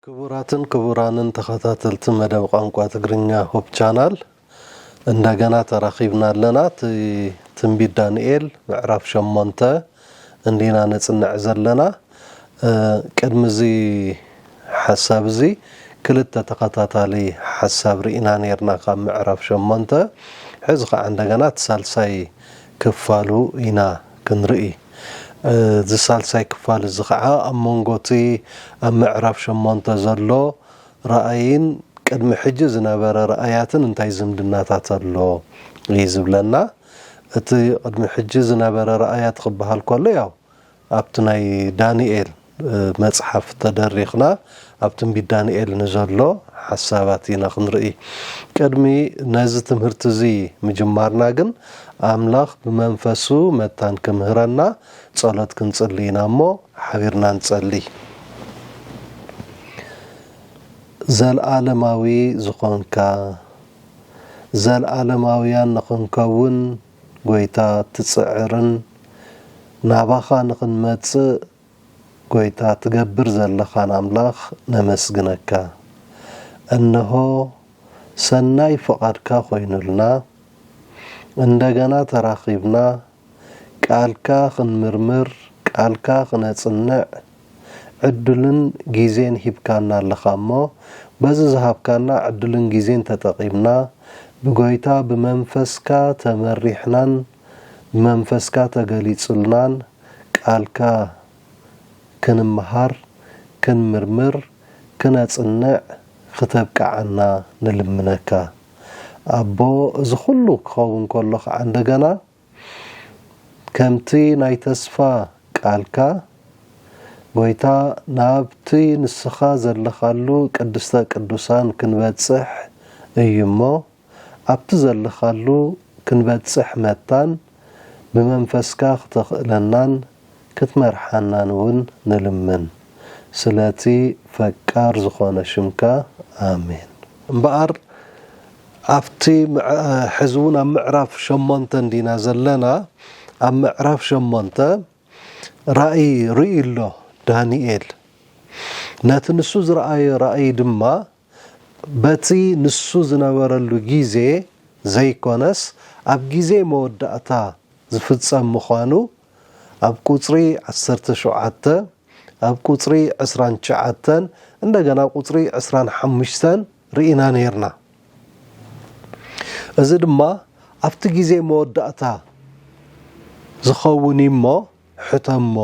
ክቡራትን ክቡራንን ተኸታተልቲ መደብ ቋንቋ ትግርኛ ሁብ ቻናል እንደገና ተራኺብና ኣለና እቲ ትንቢት ዳንኤል ምዕራፍ ሸሞንተ እንዲና ነጽንዕ ዘለና እ፣ ቅድሚ እዚ ሓሳብ እዚ ክልተ ተኸታታሊ ሓሳብ ርኢና ነርና ካብ ምዕራፍ ሸሞንተ ሕዚ ከዓ እንደገና እቲ ሳልሳይ ክፋሉ ኢና ክንርኢ። እዚ ሳልሳይ ክፋል እዚ ኸዓ ኣብ መንጎ እቲ ኣብ ምዕራፍ ሸሞንተ ዘሎ ራእይን ቅድሚ ሕጂ ዝነበረ ራእያትን እንታይ ዝምድናታት ኣሎ እዩ ዝብለና። እቲ ቅድሚ ሕጂ ዝነበረ ራእያት ክበሃል ከሎ ያው ኣብቲ ናይ ዳንኤል፣ መጽሓፍ ተደሪኽና ኣብ ትንቢት ዳንኤል ንዘሎ ሓሳባት ኢና ክንርኢ። ቅድሚ ነዚ ትምህርቲ እዚ ምጅማርና ግን ኣምላኽ ብመንፈሱ መታን ክምህረና ጸሎት ክንጽሊ ኢና እሞ ሓቢርና ንጸሊ። ዘልኣለማዊ ዝኾንካ፣ ዘልኣለማውያን ንኽንከውን ጎይታ ትጽዕርን ናባኻ ንኽንመጽእ ጎይታ ትገብር ዘለኻን ኣምላኽ ነመስግነካ። እንሆ ሰናይ ፍቓድካ ኮይኑልና እንደገና ተራኺብና ቃልካ ክንምርምር ቃልካ ክነጽንዕ ዕድልን ግዜን ሂብካና ኣለኻ እሞ በዚ ዝሃብካና ዕድልን ግዜን ተጠቒምና ብጎይታ ብመንፈስካ ተመሪሕናን ብመንፈስካ ተገሊጹልናን ቃልካ ክንምሃር ክንምርምር ክነጽንዕ ክተብቅዓና ንልምነካ ኣቦ እዚ ኩሉ ክኸውን ከሎ ከኣ እንደገና ከምቲ ናይ ተስፋ ቃልካ፣ ጐይታ፣ ናብቲ ንስኻ ዘለኻሉ ቅድስተ ቅዱሳን ክንበጽሕ እዩ እሞ፣ ኣብቲ ዘለኻሉ ክንበጽሕ መታን ብመንፈስካ ክተኽእለናን ክትመርሓናን እውን ንልምን ስለቲ ፈቃር ዝኾነ ሽምካ ኣሜን። እምበኣር ኣብቲ ሕዚ እውን ኣብ ምዕራፍ ሸሞንተ እንዲና ዘለና ኣብ ምዕራፍ ሸሞንተ ራእይ ርእዩ ኣሎ ዳንኤል ነቲ ንሱ ዝረኣዮ ራእይ ድማ በቲ ንሱ ዝነበረሉ ግዜ ዘይኰነስ ኣብ ግዜ መወዳእታ ዝፍጸም ምዃኑ ኣብ ቍጽሪ ዓሰርተ ሸውዓተ፣ ኣብ ቍጽሪ ዕስራን ትሽዓተን እንደገና ኣብ ቍጽሪ ዕስራን ሓሙሽተን ርኢና ኔርና። እዚ ድማ ኣብቲ ግዜ መወዳእታ ዝኸውን እዩ እሞ ሕተሞ።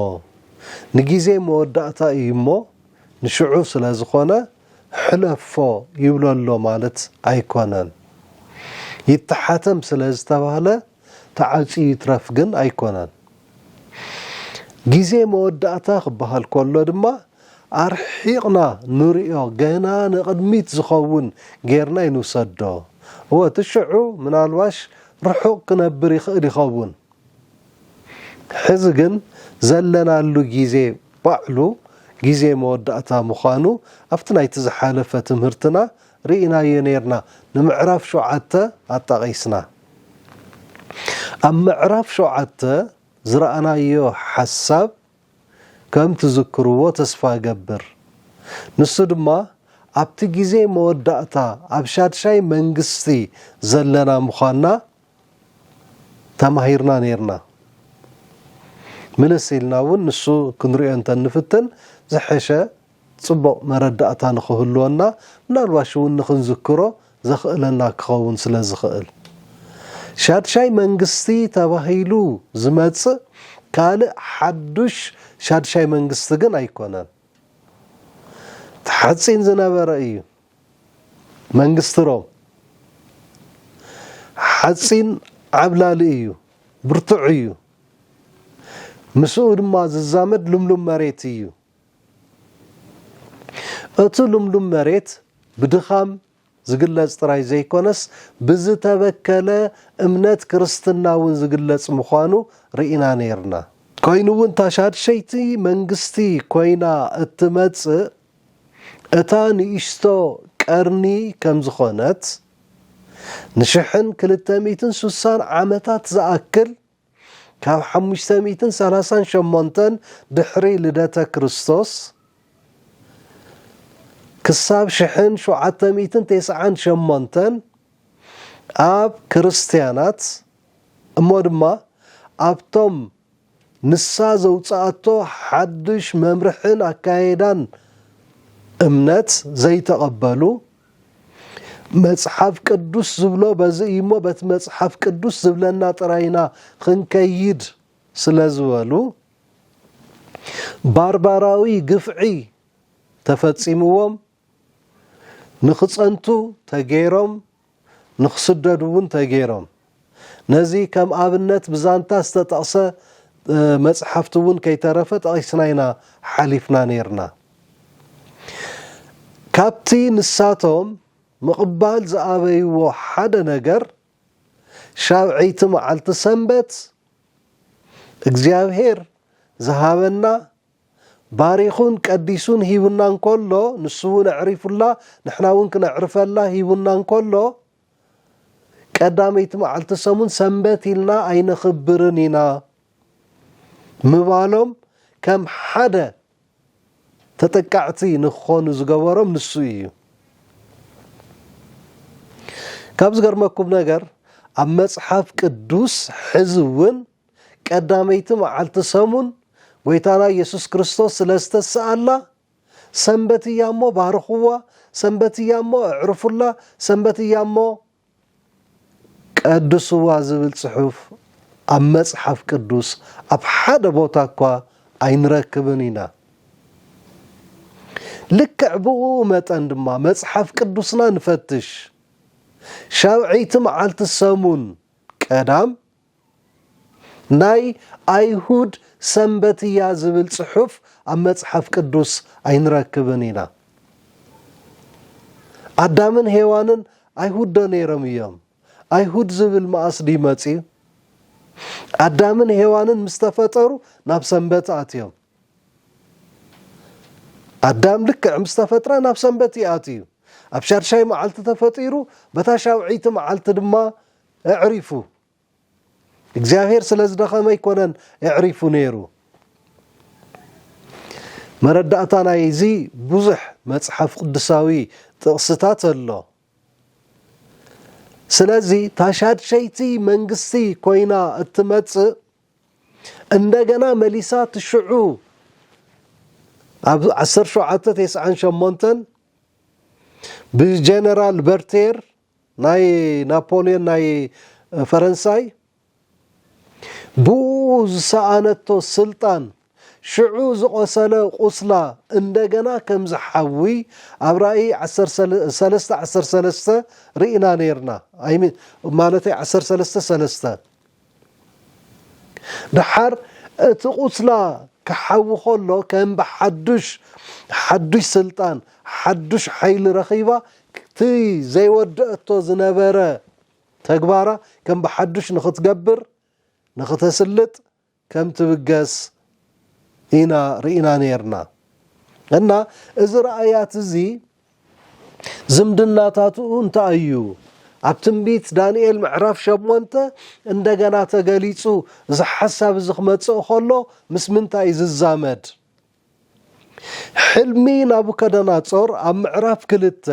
ንግዜ መወዳእታ እዩ እሞ ንሽዑ ስለ ዝዀነ ሕለፎ ይብሎ ኣሎ ማለት ኣይኮነን። ይተሓተም ስለ ዝተባህለ ተዓጽዩ ይትረፍ ግን ኣይኮነን። ግዜ መወዳእታ ክበሃል ከሎ ድማ ኣርሒቕና ንርእዮ ገና ንቕድሚት ዝኸውን ጌርና ኣይንውሰዶ። እወ እቲ ሽዑ ምናልባሽ ርሑቕ ክነብር ይኽእል ይኸውን። ሕዚ ግን ዘለናሉ ግዜ ባዕሉ ግዜ መወዳእታ ምዃኑ ኣብቲ ናይቲ ዝሓለፈ ትምህርትና ርኢናዮ ኔርና ንምዕራፍ ሸውዓተ ኣጣቒስና። ኣብ ምዕራፍ ሸውዓተ ዝረኣናዮ ሓሳብ ከም ትዝክርዎ ተስፋ እገብር። ንሱ ድማ ኣብቲ ግዜ መወዳእታ ኣብ ሻድሻይ መንግስቲ ዘለና ምዃንና፣ ተማሂርና ኔርና ምልስ ኢልና እውን ንሱ ክንሪኦ እንተንፍትን ዝሐሸ ፅቡቕ መረዳእታ ንኽህልወና ምናልባሽ እውን ንኽንዝክሮ ዘኽእለና ክኸውን ስለ ዝኽእል ሻድሻይ መንግስቲ ተባሂሉ ዝመፅእ ካልእ ሓዱሽ ሻድሻይ መንግስቲ ግን ኣይኮነን እቲ ሓፂን ዝነበረ እዩ መንግስቲ ሮም ሓጺን ዓብላሊ እዩ፣ ብርቱዕ እዩ፣ ምስኡ ድማ ዝዛመድ ልምሉም መሬት እዩ። እቲ ልምሉም መሬት ብድኻም ዝግለጽ ጥራይ ዘይኮነስ ብዝተበከለ እምነት ክርስትና እውን ዝግለጽ ምዃኑ ርኢና ነይርና። ኮይኑ እውን እታ ሻድሸይቲ መንግስቲ ኮይና እትመጽእ እታ ንእሽቶ ቀርኒ ከም ዝዀነት፣ ንሽሕን ክልተ ሚእትን ስሳን ዓመታት ዝኣክል፣ ካብ ሓሙሽተ ሚእትን ሰላሳን ሸሞንተን ድሕሪ ልደተ ክርስቶስ ክሳብ ሽሕን ሸውዓተ ሚእትን ተስዓን ሸሞንተን ኣብ ክርስትያናት እሞ ድማ ኣብቶም ንሳ ዘውጽኣቶ ሓዱሽ መምርሕን ኣካይዳን እምነት ዘይተቐበሉ፣ መጽሓፍ ቅዱስ ዝብሎ በዚ እዩሞ በቲ መጽሓፍ ቅዱስ ዝብለና ጥራይ ኢና ኽንከይድ ስለ ዝበሉ፣ ባርባራዊ ግፍዒ ተፈጺምዎም። ንክጸንቱ ተገይሮም ንክስደዱ እውን ተገይሮም። ነዚ ከም ኣብነት ብዛንታ ዝተጠቕሰ መጽሓፍቲ እውን ከይተረፈ ጠቒስና ኢና ሓሊፍና ነይርና። ካብቲ ንሳቶም ምቕባል ዝኣበይዎ ሓደ ነገር፣ ሻብዐይቲ መዓልቲ ሰንበት እግዚኣብሄር ዝሃበና፣ ባሪኹን ቀዲሱን ሂቡና እንከሎ ንሱውን ኣዕሪፉላ ንሕናውን ክነዕርፈላ ሂቡና እንከሎ ቀዳመይቲ መዓልቲ ሰሙን ሰንበት ኢልና ኣይነኽብርን ኢና ምባሎም ከም ሓደ ተጠቃዕቲ ንክኾኑ ዝገበሮም ንሱ ኢዩ። ካብ ዝገርመኩም ነገር ኣብ መጽሓፍ ቅዱስ ሕዚ እውን ቀዳመይቲ መዓልቲ ሰሙን ጐይታና ኢየሱስ ክርስቶስ ስለ ዝተስኣላ ሰንበት እያ እሞ ባርኽዋ፣ ሰንበት እያ እሞ ኣዕርፉላ፣ ሰንበት እያ እሞ ቀድስዋ ዝብል ጽሑፍ ኣብ መጽሓፍ ቅዱስ ኣብ ሓደ ቦታ እኳ ኣይንረክብን ኢና። ልክዕ ብእኡ መጠን ድማ መጽሓፍ ቅዱስና ንፈትሽ። ሻውዐይቲ መዓልቲ ሰሙን ቀዳም ናይ ኣይሁድ ሰንበት እያ ዝብል ጽሑፍ ኣብ መጽሓፍ ቅዱስ ኣይንረክብን ኢና። ኣዳምን ሄዋንን ኣይሁድ ዶ ነይሮም እዮም? ኣይሁድ ዝብል መኣስ ድዩ መጺኡ? ኣዳምን ሄዋንን ምስ ተፈጠሩ ናብ ሰንበት ኣትዮም። ኣዳም ልክዕ ምስ ተፈጥረ ናብ ሰንበት እዩ ኣትዩ። ኣብ ሻድሻይ መዓልቲ ተፈጢሩ፣ በታ ሻውዐይቲ መዓልቲ ድማ ኣዕሪፉ እግዚኣብሄር ስለ ዝደኸመ ኣይኮነን ኣዕሪፉ ነይሩ። መረዳእታ ናይዚ ብዙሕ መጽሓፍ ቅዱሳዊ ጥቕስታት ኣሎ። ስለዚ እታ ሻድሸይቲ መንግስቲ ኮይና እትመጽእ እንደገና መሊሳ እቲ ሽዑ ኣብ ዓሰርተ ሸውዓተ ቴስዓን ሸሞንተን ብጀነራል በርቴር ናይ ናፖልዮን ናይ ፈረንሳይ ብኡ ዝሰኣነቶ ስልጣን ሽዑ ዝቖሰለ ቁስላ እንደገና ከም ዝሓዊ ኣብ ራኢ ሰለስተ ዓሰርተ ሰለስተ ርኢና ኔርና ማለተይ ዓሰርተ ሰለስተ ሰለስተ ደሓር እቲ ቁስላ ክሓዊ ከሎ ከም ብሓዱሽ ሓዱሽ ስልጣን ሓዱሽ ሓይሊ ረኺባ እቲ ዘይወደኣቶ ዝነበረ ተግባራ ከም ብሓዱሽ ንኽትገብር ንኽተስልጥ ከም ትብገስ ኢና ርኢና ኔርና እና እዚ ራእያት እዚ ዝምድናታትኡ እንታይ እዩ? ኣብ ትንቢት ዳንኤል ምዕራፍ ሸሞንተ እንደገና ተገሊጹ እዚ ሓሳብ እዚ ክመጽእ ከሎ ምስ ምንታይ እዩ ዝዛመድ? ሕልሚ ናቡከደናጾር ኣብ ምዕራፍ ክልተ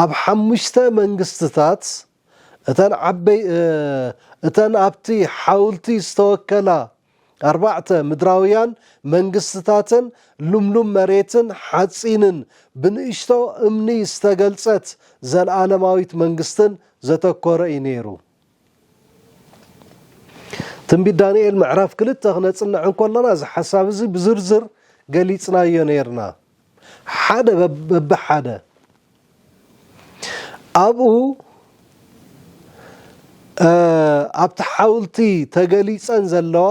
ኣብ ሓሙሽተ መንግስትታት እተን ኣብቲ ሓውልቲ ዝተወከላ ኣርባዕተ፣ ምድራውያን መንግስትታትን ልምሉም መሬትን ሓጺንን ብንእሽቶ እምኒ ዝተገልጸት ዘለኣለማዊት መንግስትን ዘተኮረ እዩ ነይሩ። ትንቢት ዳንኤል ምዕራፍ ክልተ ክነጽንዕ እንከሎና እዚ ሓሳብ እዚ ብዝርዝር ገሊጽናዮ ነይርና። ሓደ በብሓደ ኣብኡ ኣብቲ ሓውልቲ ተገሊጸን ዘለዋ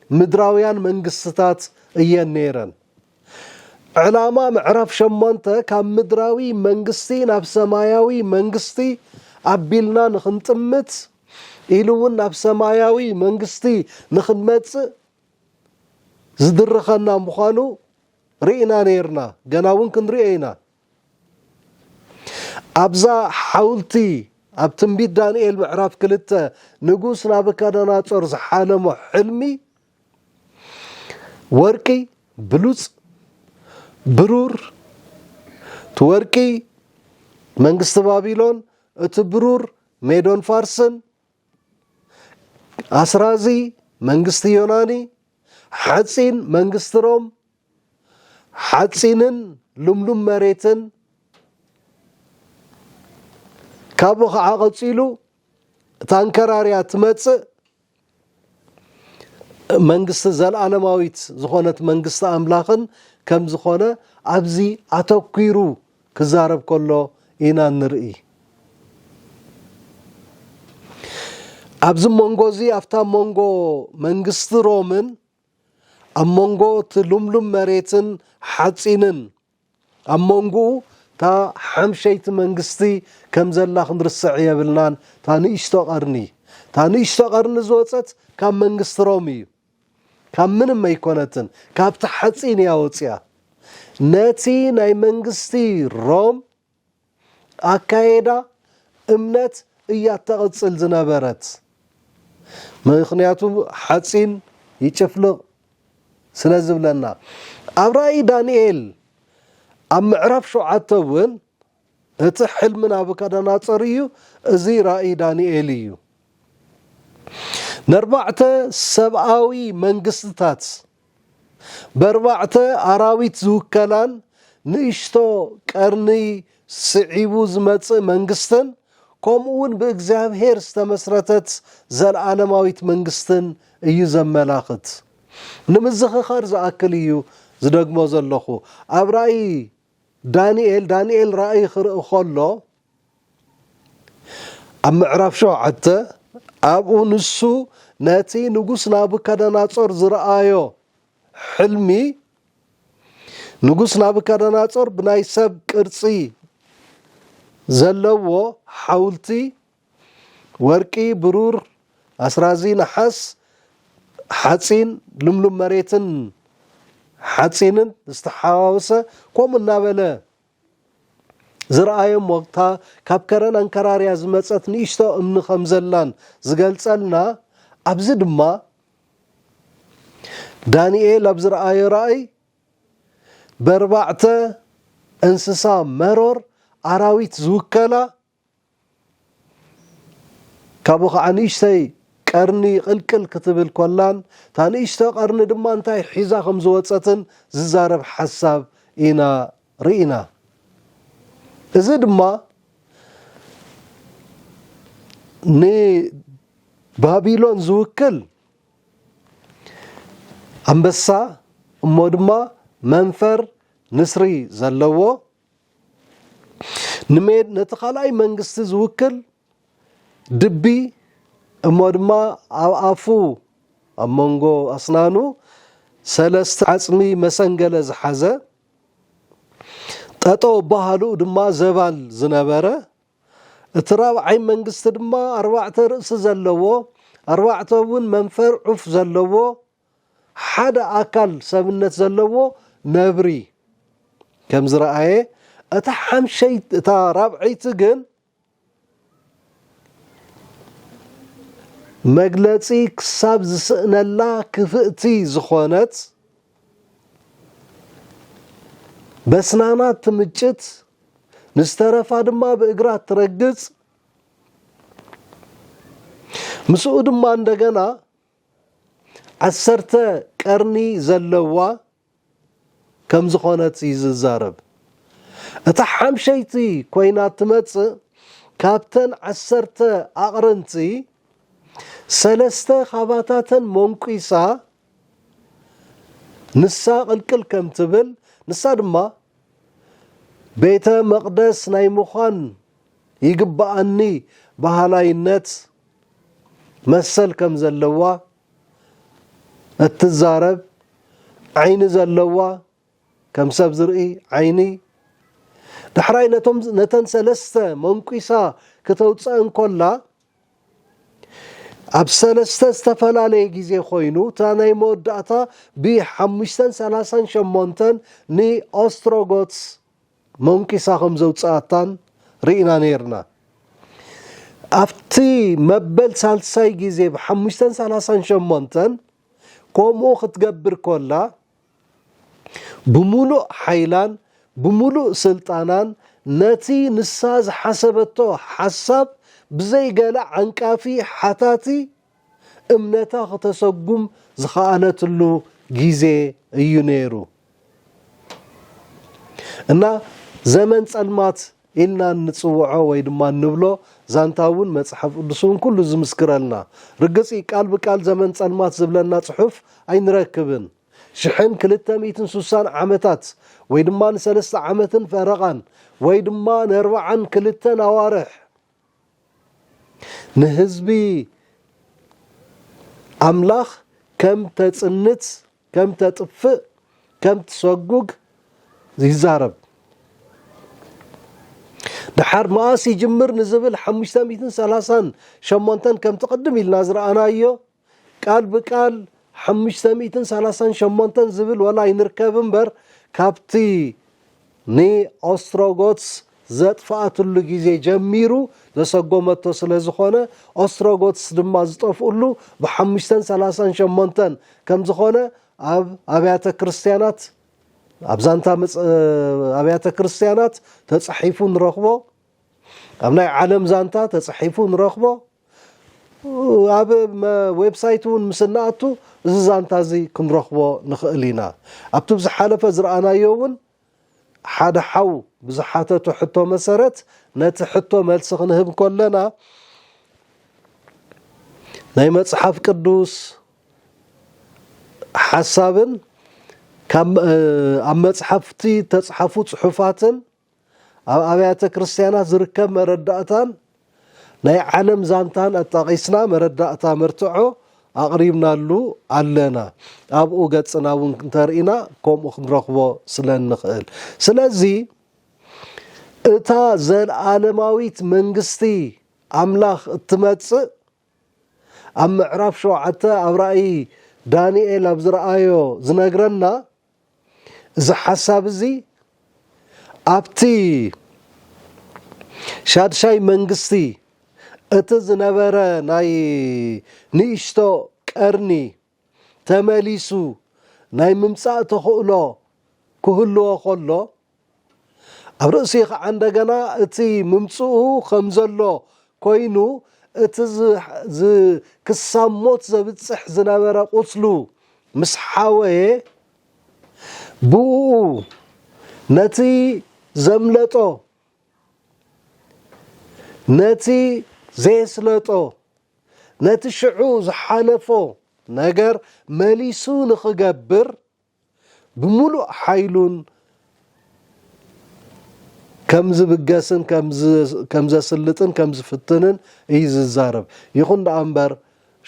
ምድራውያን መንግስትታት እየን ነይረን። ዕላማ ምዕራፍ ሸሞንተ ካብ ምድራዊ መንግስቲ ናብ ሰማያዊ መንግስቲ ኣቢልና ንኽንጥምት ኢሉ እውን ናብ ሰማያዊ መንግስቲ ንኽንመጽእ ዝድርኸና ምዃኑ ርኢና ነይርና፣ ገና እውን ክንሪኦ ኢና። ኣብዛ ሓውልቲ ኣብ ትንቢት ዳንኤል ምዕራፍ ክልተ ንጉስ ናቡካዳናፆር ዝሓለሞ ሕልሚ ወርቂ ብሉፅ ብሩር እቲ ወርቂ መንግስቲ ባቢሎን እቲ ብሩር ሜዶን ፋርስን ኣስራዚ መንግስቲ ዮናኒ፣ ሓጺን መንግስቲ ሮም፣ ሓጺንን ልምሉም መሬትን፣ ካብኡ ኸዓ ቐጺሉ እታ ኣንከራርያ እትመጽእ መንግስቲ ዘለኣለማዊት ዝኾነት መንግስቲ ኣምላኽን ከም ዝኾነ ኣብዚ ኣተኲሩ ክዛረብ ከሎ ኢና እንርኢ። ኣብዚ መንጎ እዚ ኣብታ መንጎ መንግስቲ ሮምን ኣብ መንጎ እቲ ልምሉም መሬትን ሓጺንን ኣብ መንጎኡ እታ ሓምሸይቲ መንግስቲ ከም ዘላ ክንርስዕ የብልናን፣ እታ ንእሽቶ ቀርኒ። እታ ንእሽቶ ቀርኒ ዝወጸት ካብ መንግስቲ ሮም እዩ። ካብ ምንም ኣይኮነትን ካብቲ ሓጺን እያ ወጺኣ ነቲ ናይ መንግስቲ ሮም ኣካይዳ እምነት እያ ተቅጽል ዝነበረት ምክንያቱ ሓጺን ይጭፍልቅ ስለ ዝብለና ኣብ ራኢ ዳንኤል ኣብ ምዕራፍ ሸውዓተ ውን እቲ ሕልሚ ናቡከደናፆር እዩ፣ እዚ ራኢ ዳንኤል እዩ። ነርባዕተ ሰብኣዊ መንግስትታት በርባዕተ ኣራዊት ዝውከላን ንእሽቶ ቀርኒ ስዒቡ ዝመፅእ መንግስትን ከምኡ እውን ብእግዚኣብሔር ዝተመስረተት ዘለዓለማዊት መንግስትን እዩ ዘመላኽት። ንምዝኽኻር ዝኣክል እዩ ዝደግሞ ዘለኹ። ኣብ ራኢ ዳንኤል ዳንኤል ራእይ ክርኢ ከሎ ኣብ ምዕራፍ ሸውዓተ ኣብኡ ንሱ ነቲ ንጉስ ናቡከደናጾር ዝረኣዮ ሕልሚ ንጉስ ናቡከደናጾር ብናይ ሰብ ቅርጺ ዘለዎ ሓውልቲ ወርቂ፣ ብሩር፣ ኣስራዚ፣ ነሓስ፣ ሓፂን፣ ልምሉም መሬትን ሓፂንን ዝተሓዋወሰ ከምኡ እናበለ ዝርኣዮም ወቕታ ካብ ከረን ኣንከራርያ ዝመፀት ንእሽቶ እምኒ ከም ዘላን ዝገልፀልና ኣብዚ ድማ ዳንኤል ኣብ ዝረኣዮ ራእይ በርባዕተ እንስሳ መሮር ኣራዊት ዝውከላ ካብኡ ኸዓ ንእሽተይ ቀርኒ ቕልቅል ክትብል ኮላን እታ ንእሽቶ ቀርኒ ድማ እንታይ ሒዛ ከም ዝወፀትን ዝዛረብ ሓሳብ ኢና ርኢና። እዚ ድማ ንባቢሎን ዝውክል ኣንበሳ እሞ ድማ መንፈር ንስሪ ዘለዎ ንሜድ ነቲ ካልኣይ መንግስቲ ዝውክል ድቢ እሞ ድማ ኣብ ኣፉ ኣብ መንጎ ኣስናኑ ሰለስተ ዓጽሚ መሰንገለ ዝሓዘ ጠጠው ኣበሃህልኡ ድማ ዘባል ዝነበረ እቲ ራብዓይ መንግስቲ ድማ ኣርባዕተ ርእሲ ዘለዎ ኣርባዕተ እውን መንፈር ዑፍ ዘለዎ ሓደ ኣካል ሰብነት ዘለዎ ነብሪ ከም ዝረኣየ፣ እታ ሓምሸይቲ እታ ራብዐይቲ ግን መግለጺ ክሳብ ዝስእነላ ክፍእቲ ዝኾነት በስናና ትምጭት ንዝተረፋ ድማ ብእግራ ትረግጽ ምስኡ ድማ እንደገና ዓሰርተ ቀርኒ ዘለዋ ከም ዝኾነት እዩ ዝዛረብ። እታ ሓምሸይቲ ኮይና እትመጽእ ካብተን ዓሰርተ ኣቕርንቲ ሰለስተ ካባታተን ሞንቊሳ ንሳ ቅልቅል ከም ትብል ንሳ ድማ ቤተ መቕደስ ናይ ምዃን ይግብኣኒ በሃላይነት መሰል ከም ዘለዋ እትዛረብ፣ ዓይኒ ዘለዋ፣ ከም ሰብ ዝርኢ ዓይኒ፣ ዳሕራይ ነተን ሰለስተ መንኲሳ ክተውጸእን ከላ፣ ኣብ ሰለስተ ዝተፈላለየ ግዜ ኮይኑ እታ ናይ መወዳእታ ብ ሓሙሽተ ሰላሳን ሸሞንተን ን ኦስትሮጎትስ ሞንኪሳ ከም ዘውጽኣታን ርኢና ኔርና። ኣብቲ መበል ሳልሳይ ግዜ ብ ሓሙሽተ ሰላሳን ሸሞንተን ከምኡ ክትገብር ከላ ብምሉእ ሓይላን ብምሉእ ስልጣናን ነቲ ንሳ ዝሓሰበቶ ሓሳብ ብዘይ ገለ ዓንቃፊ ሓታቲ እምነታ ክተሰጉም ዝኸኣለትሉ ግዜ እዩ ነይሩ እና ዘመን ጸልማት ኢልና እንጽውዖ ወይ ድማ እንብሎ ዛንታ እውን መጽሓፍ ቅዱስ እውን ኩሉ ዝምስክረልና። ርግጽ እዩ ቃል ብቃል ዘመን ጸልማት ዝብለና ጽሑፍ ኣይንረክብን። ሽሕን ክልተ ሚእትን ሱሳን ዓመታት ወይ ድማ ንሰለስተ ዓመትን ፈረቓን ወይ ድማ ነርብዓን ክልተን ኣዋርሕ ንህዝቢ ኣምላኽ ከም ተጽንት ከም ተጥፍእ ከም ትሰጉግ ይዛረብ። ደሓር መኣስ ይጅምር ንዝብል ሓሙሽተ ሚእትን ሰላሳን ሸሞንተን ከምቲ ቅድም ኢልና ዝረኣናዮ ቃል ብቃል ሓሙሽተ ሚእትን ሰላሳን ሸሞንተን ዝብል ወላ ኣይንርከብ እምበር ካብቲ ንኦስትሮጎትስ ዘጥፍኣትሉ ግዜ ጀሚሩ ዘሰጎመቶ ስለ ዝኾነ፣ ኦስትሮጎትስ ድማ ዝጠፍኡሉ ብሓሙሽተን ሰላሳን ሸሞንተን ከም ዝኾነ ኣብ ኣብያተ ክርስቲያናት ኣብ ዛንታ ኣብያተ ክርስቲያናት ተጻሒፉ ንረኽቦ፣ ኣብ ናይ ዓለም ዛንታ ተጻሒፉ ንረኽቦ። ኣብ ዌብሳይት እውን ምስ እንኣቱ እዚ ዛንታ እዚ ክንረኽቦ ንኽእል ኢና። ኣብቲ ብዝሓለፈ ዝረኣናዮ እውን ሓደ ሓው ብዝሓተቶ ሕቶ መሰረት ነቲ ሕቶ መልሲ ክንህብ ከለና ናይ መጽሓፍ ቅዱስ ሓሳብን ኣብ መጽሓፍቲ እተጽሓፉ ጽሑፋትን ኣብ ኣብያተ ክርስትያናት ዝርከብ መረዳእታን ናይ ዓለም ዛንታን ኣጣቒስና መረዳእታ መርትዖ ኣቕሪብናሉ ኣለና። ኣብኡ ገጽና እውን እንተርኢና ከምኡ ክንረኽቦ ስለ እንኽእል። ስለዚ እታ ዘለዓለማዊት መንግስቲ ኣምላኽ እትመጽእ ኣብ ምዕራፍ ሸውዓተ ኣብ ራእይ ዳንኤል ኣብ ዝረኣዮ ዝነግረና እዚ ሓሳብ እዚ ኣብቲ ሻድሻይ መንግስቲ እቲ ዝነበረ ናይ ንእሽቶ ቀርኒ ተመሊሱ ናይ ምምጻእ ተኽእሎ ክህልዎ ከሎ፣ ኣብ ርእሲ ኸዓ እንደገና እቲ ምምፅኡ ከም ዘሎ ኮይኑ እቲ ዝ ክሳብ ሞት ዘብፅሕ ዝነበረ ቁስሉ ምስ ሓወየ ብኡኡ ነቲ ዘምለጦ ነቲ ዘየስለጦ ነቲ ሽዑ ዝሓለፎ ነገር መሊሱ ንኽገብር ብምሉእ ሓይሉን ከም ዝብገስን ከም ዘስልጥን ከም ዝፍትንን እዩ ዝዛረብ። ይኹን ደኣ እምበር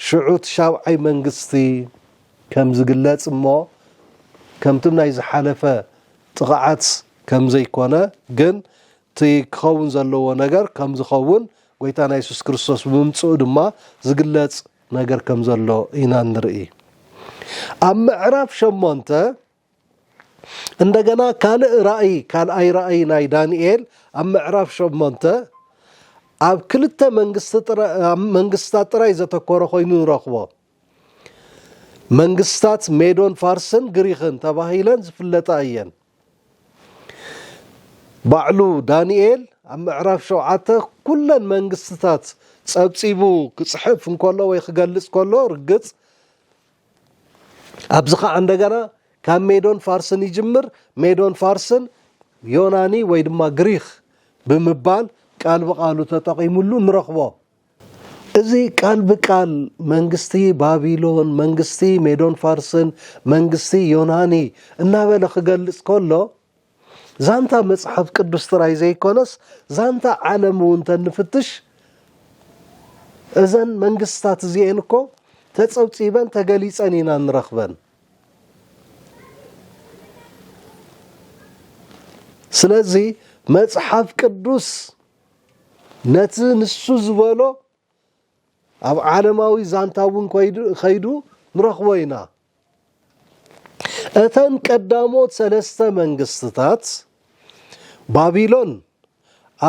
ሽዑ እቲ ሻብዓይ መንግስቲ ከም ዝግለጽ እሞ ከምቲ ናይ ዝሓለፈ ጥቕዓት ከም ዘይኮነ ግን እቲ ክኸውን ዘለዎ ነገር ከም ዝኸውን ጎይታና የሱስ ክርስቶስ ብምምጽኡ ድማ ዝግለጽ ነገር ከም ዘሎ ኢና እንርኢ። ኣብ ምዕራፍ ሸሞንተ እንደገና ካልእ ራእይ ካልኣይ ራእይ ናይ ዳንኤል ኣብ ምዕራፍ ሸሞንተ ኣብ ክልተ መንግስታት ጥራይ ዘተኮረ ኮይኑ ንረኽቦ። መንግስታት ሜዶን ፋርስን ግሪኽን ተባሂለን ዝፍለጣ እየን። ባዕሉ ዳንኤል ኣብ ምዕራፍ ሸውዓተ ኩለን መንግስትታት ጸብጺቡ ክጽሕፍ እንከሎ ወይ ክገልጽ ከሎ ርግጽ ኣብዚ ከዓ እንደገና ካብ ሜዶን ፋርስን ይጅምር ሜዶን ፋርስን ዮናኒ ወይ ድማ ግሪክ ብምባል ቃል ብቃሉ ተጠቂምሉ ንረኽቦ እዚ ቃል ብቃል መንግስቲ ባቢሎን፣ መንግስቲ ሜዶን ፋርስን፣ መንግስቲ ዮናኒ እናበለ ክገልጽ ከሎ ዛንታ መጽሓፍ ቅዱስ ጥራይ ዘይኮነስ ዛንታ ዓለም እውን ተንፍትሽ እዘን መንግስትታት እዚኤን እኮ ተጸብጺበን ተገሊጸን ኢና ንረኽበን። ስለዚ መጽሓፍ ቅዱስ ነቲ ንሱ ዝበሎ ኣብ ዓለማዊ ዛንታ እውን ከይዱ ንረኽቦ ኢና። እተን ቀዳሞት ሰለስተ መንግስትታት ባቢሎን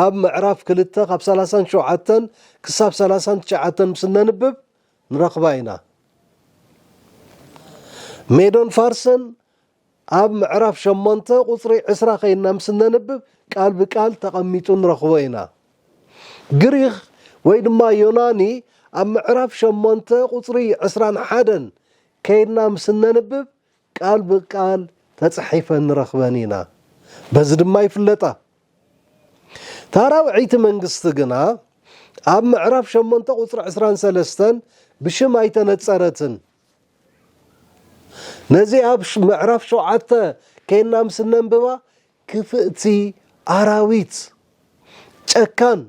ኣብ ምዕራፍ ክልተ ካብ ሰላሳን ሸውዓተን ክሳብ ሰላሳን ትሽዓተን ምስ እነንብብ ንረኽባ ኢና። ሜዶን ፋርስን ኣብ ምዕራፍ ሸሞንተ ቁጽሪ ዕስራ ዄንና ምስ እነንብብ ቃል ብቃል ተቐሚጡ ንረኽቦ ኢና። ግሪኽ ወይ ድማ ዮናኒ ኣብ ምዕራፍ ሸሞንተ ቁጽሪ ዕስራን ሓደን ከይድና ምስ እነንብብ ቃል ብቃል ተጻሒፈን ንረኽበን ኢና። በዚ ድማ ይፍለጣ። እታ ራብዐይቲ መንግስቲ ግና ኣብ ምዕራፍ ሸሞንተ ቁጽሪ ዕስራን ሰለስተን ብሽም ኣይተነጸረትን። ነዚ ኣብ ምዕራፍ ሸውዓተ ኴንና ምስ እነንብባ ክፍእቲ ኣራዊት ጨካን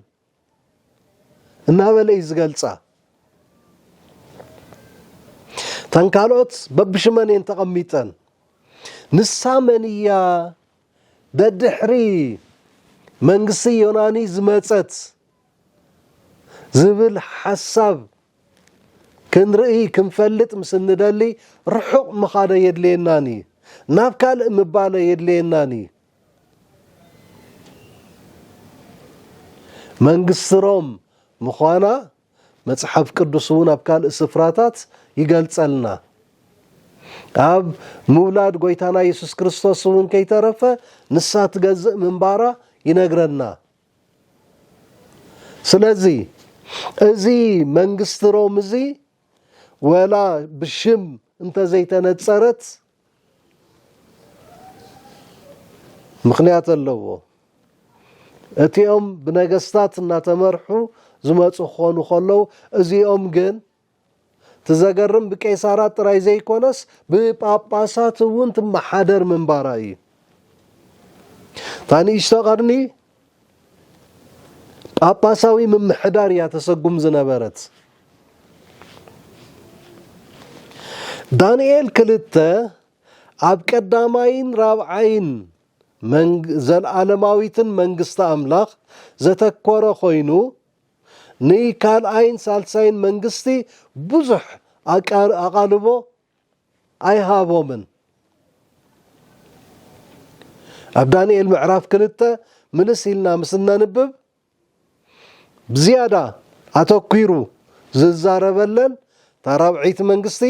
እናበለ እዩ ዝገልፃ። እተን ካልኦት በብሽመን እየን ተቐሚጠን። ንሳ መን እያ? ደድሕሪ መንግስቲ ዮናኒ ዝመፀት ዝብል ሓሳብ ክንርኢ ክንፈልጥ ምስ እንደሊ ርሑቕ ምኻድ ኣየድልየናን እዩ። ናብ ካልእ ምባል ኣየድልየናን እዩ። መንግስቲ ሮም ምዃና መጽሓፍ ቅዱስ እውን ኣብ ካልእ ስፍራታት ይገልጸልና። ኣብ ምውላድ ጐይታና የሱስ ክርስቶስ እውን ከይተረፈ ንሳ ትገዝእ ምንባራ ይነግረና። ስለዚ እዚ መንግስቲ ሮም እዚ ወላ ብሽም እንተዘይተነፀረት ምኽንያት ኣለዎ። እቲኦም ብነገስታት እናተመርሑ ዝመፁ ክኾኑ ከለው እዚኦም ግን እቲ ዘገርም ብቄሳራት ጥራይ ዘይኮነስ ብጳጳሳት እውን ትመሓደር ምንባራ እዩ። እታ ንእሽቶ ቐርኒ ጳጳሳዊ ምምሕዳር እያ ተሰጉም ዝነበረት። ዳንኤል ክልተ ኣብ ቀዳማይን ራብዓይን ዘልኣለማዊትን መንግስቲ ኣምላኽ ዘተኮረ ኮይኑ ንካልኣይን ሳልሳይን መንግስቲ ብዙሕ ኣቓልቦ ኣይሃቦምን። ኣብ ዳንኤል ምዕራፍ ክልተ ምልስ ኢልና ምስ እነንብብ ብዝያዳ ኣተኲሩ ዝዛረበለን እታ ራብዐይቲ መንግስቲ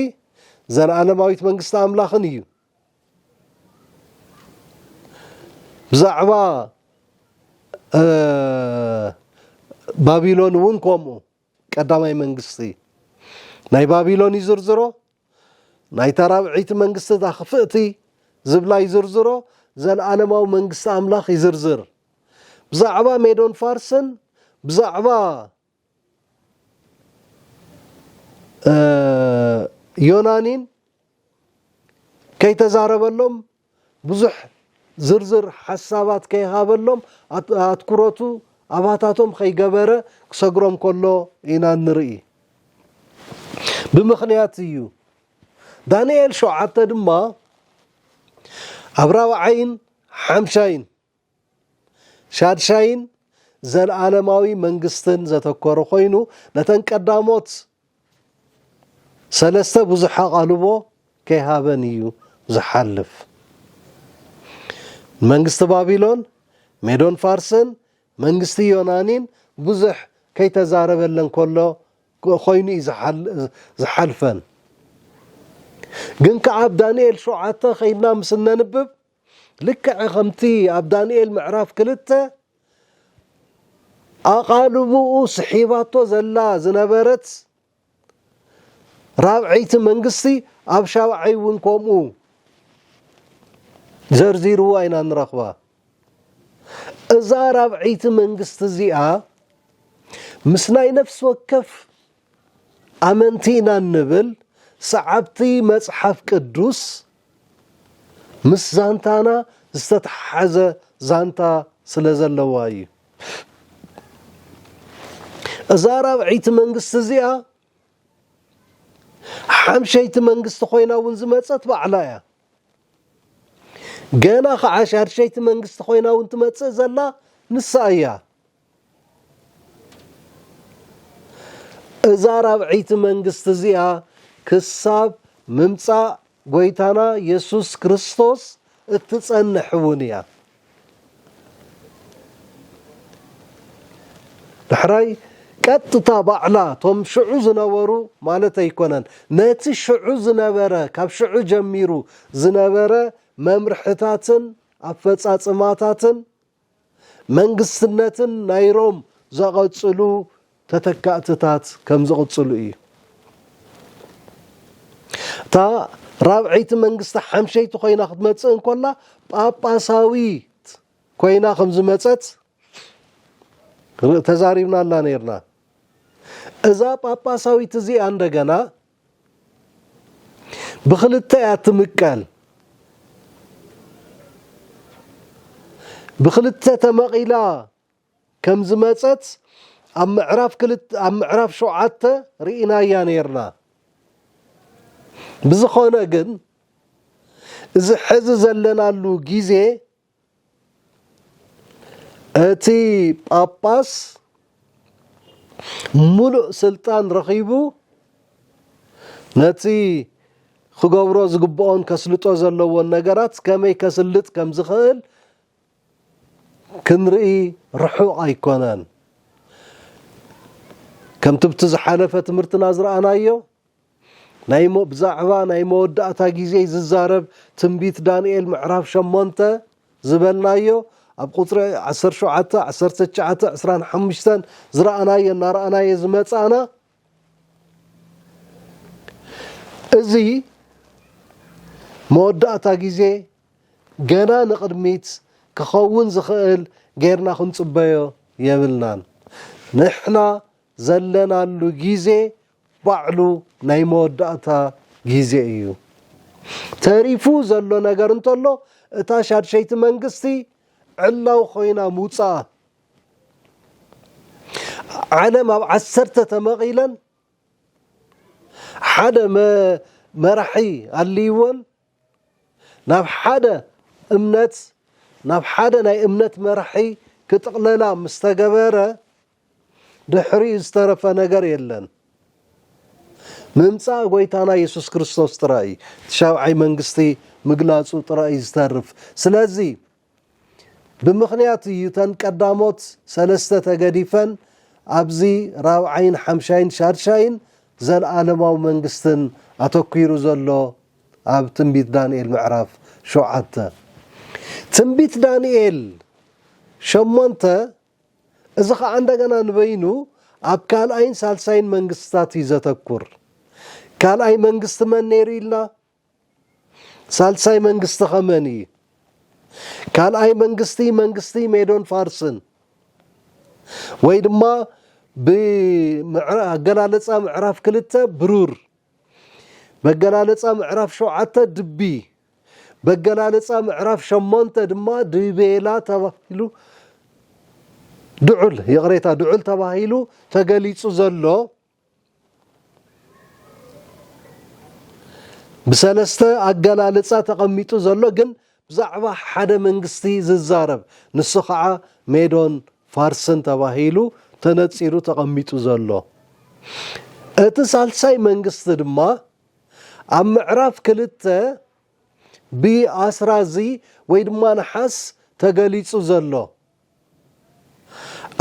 ዘለኣለማዊት መንግስቲ ኣምላኽን እዩ። ብዛዕባ ባቢሎን እውን ከምኡ ቀዳማይ መንግስቲ ናይ ባቢሎን ይዝርዝሮ ናይታ ራብዒቲ መንግስቲ እታ ክፍእቲ ዝብላ ይዝርዝሮ ዘለኣለማዊ መንግስቲ ኣምላኽ ይዝርዝር ብዛዕባ ሜዶን ፋርስን ብዛዕባ ዮናኒን ከይተዛረበሎም ብዙሕ ዝርዝር ሓሳባት ከይሃበሎም ኣትኩረቱ ኣባታቶም ከይገበረ ክሰግሮም ከሎ ኢና ንርኢ ብምኽንያት እዩ ዳንኤል ሸውዓተ ድማ ኣብ ራብዓይን ሓምሻይን ሻድሻይን ዘልኣለማዊ መንግስትን ዘተኮረ ኮይኑ ነተን ቀዳሞት ሰለስተ ብዙሕ ኣቓልቦ ከይሃበን እዩ ዝሓልፍ። ንመንግስቲ ባቢሎን፣ ሜዶን ፋርስን መንግስቲ ዮናኒን ብዙሕ ከይተዛረበለን ከሎ ኮይኑ እዩ ዝሓልፈን። ግን ከኣ ኣብ ዳንኤል ሸውዓተ ከይድና ምስ እነንብብ ልክዕ ከምቲ ኣብ ዳንኤል ምዕራፍ ክልተ ኣቓልቦኡ ስሒባቶ ዘላ ዝነበረት ራብዐይቲ መንግስቲ ኣብ ሻብዓይ እውን ከምኡ ዘርዚርዋ ኢና ንረኽባ። እዛ ራብዐይቲ መንግስቲ እዚኣ ምስ ናይ ነፍሲ ወከፍ ኣመንቲ ኢና እንብል ሰዓብቲ መጽሓፍ ቅዱስ ምስ ዛንታና ዝተተሓሓዘ ዛንታ ስለ ዘለዋ እዩ። እዛ ራብዐይቲ መንግስቲ እዚኣ ሓምሸይቲ መንግስቲ ኮይና እውን ዝመፀት ባዕላ እያ። ገና ከዓ ሻድሸይቲ መንግስቲ ኮይና እውን ትመፅእ ዘላ ንሳ እያ። እዛ ራብዐይቲ መንግስቲ እዚኣ ክሳብ ምምጻእ ጐይታና የሱስ ክርስቶስ እትጸንሕ እውን እያ። ዳሕራይ ቀጥታ ባዕላ እቶም ሽዑ ዝነበሩ ማለት ኣይኮነን፣ ነቲ ሽዑ ዝነበረ ካብ ሽዑ ጀሚሩ ዝነበረ መምርሕታትን ኣፈጻጽማታትን መንግስትነትን ናይ ሮም ዘቐጽሉ ተተካእትታት ከም ዝቕጽሉ እዩ። እታ ራብዐይቲ መንግስቲ ሓምሸይቲ ኮይና ክትመጽእ እንኮላ ጳጳሳዊት ኮይና ከም ዝመጸት ተዛሪብናላ ነርና። እዛ ጳጳሳዊት እዚኣ እንደገና ብኽልተ እያ እትምቀል። ብኽልተ ተመቒላ ከም ዝመጸት ኣብ ምዕራፍ ክልተ ኣብ ምዕራፍ ሸውዓተ ርኢናያ ኔርና። ብዝኾነ ግን እዚ ሕዚ ዘለናሉ ግዜ እቲ ጳጳስ ሙሉእ ስልጣን ረኺቡ ነቲ ክገብሮ ዝግብኦን ከስልጦ ዘለዎን ነገራት ከመይ ከስልጥ ከም ዝኽእል ክንርኢ ርሑቕ ኣይኮነን። ከምቲ ብቲ ዝሓለፈ ትምህርትና ዝረኣናዮ ናይ ብዛዕባ ናይ መወዳእታ ግዜ ዝዛረብ ትንቢት ዳንኤል ምዕራፍ ሸሞንተ ዝበልናዮ ኣብ ቁጽሪ ዓሰርተ ሸውዓተ፣ ዓሰርተ ትሽዓተ፣ ዕስራን ሓሙሽተን ዝረኣናዮ እናረኣናዮ ዝመጻእና እዚ መወዳእታ ግዜ ገና ንቕድሚት ክኸውን ዝኽእል ጌርና ክንጽበዮ የብልናን። ንሕና ዘለናሉ ግዜ ባዕሉ ናይ መወዳእታ ግዜ እዩ። ተሪፉ ዘሎ ነገር እንተሎ እታ ሻድሸይቲ መንግስቲ ዕላዊ ኮይና ምውጻኣ። ዓለም ኣብ ዓሰርተ ተመቒለን ሓደ መራሒ ኣልይወን ናብ ሓደ እምነት ናብ ሓደ ናይ እምነት መራሒ ክጥቕለላ ምስ ተገበረ ድሕሪኡ ዝተረፈ ነገር የለን። ምምጻእ ጎይታና የሱስ ክርስቶስ ጥራይ እዩ። እቲ ሻብዓይ መንግስቲ ምግላጹ ጥራይ እዩ ዝተርፍ። ስለዚ ብምኽንያት እዩ እተን ቀዳሞት ሰለስተ ተገዲፈን ኣብዚ ራብዓይን ሓምሻይን ሻድሻይን ዘለኣለማዊ መንግስትን ኣተኲሩ ዘሎ ኣብ ትንቢት ዳንኤል ምዕራፍ ሸውዓተ። ትንቢት ዳንኤል ሸሞንተ እዚ ኸኣ እንደገና ንበይኑ ኣብ ካልኣይን ሳልሳይን መንግስትታት እዩ ዘተኩር። ካልኣይ መንግስቲ መን ነይሩ ኢልና? ሳልሳይ መንግስቲ ከ መን እዪ? ካልኣይ መንግስቲ መንግስቲ ሜዶን ፋርስን ወይ ድማ ብኣገላልፃ ምዕራፍ ክልተ ብሩር፣ በገላልፃ ምዕራፍ ሸውዓተ ድቢ፣ በገላልፃ ምዕራፍ ሸሞንተ ድማ ድቤላ ተባሂሉ ድዑል ይቕሬታ ድዑል ተባሂሉ ተገሊፁ ዘሎ ብሰለስተ ኣገላልጻ ተቐሚጡ ዘሎ ግን ብዛዕባ ሓደ መንግስቲ ዝዛረብ ንሱ ኸዓ ሜዶን ፋርስን ተባሂሉ ተነጺሩ ተቐሚጡ ዘሎ እቲ ሳልሳይ መንግስቲ ድማ ኣብ ምዕራፍ ክልተ ብኣስራዚ ወይ ድማ ነሓስ ተገሊጹ ዘሎ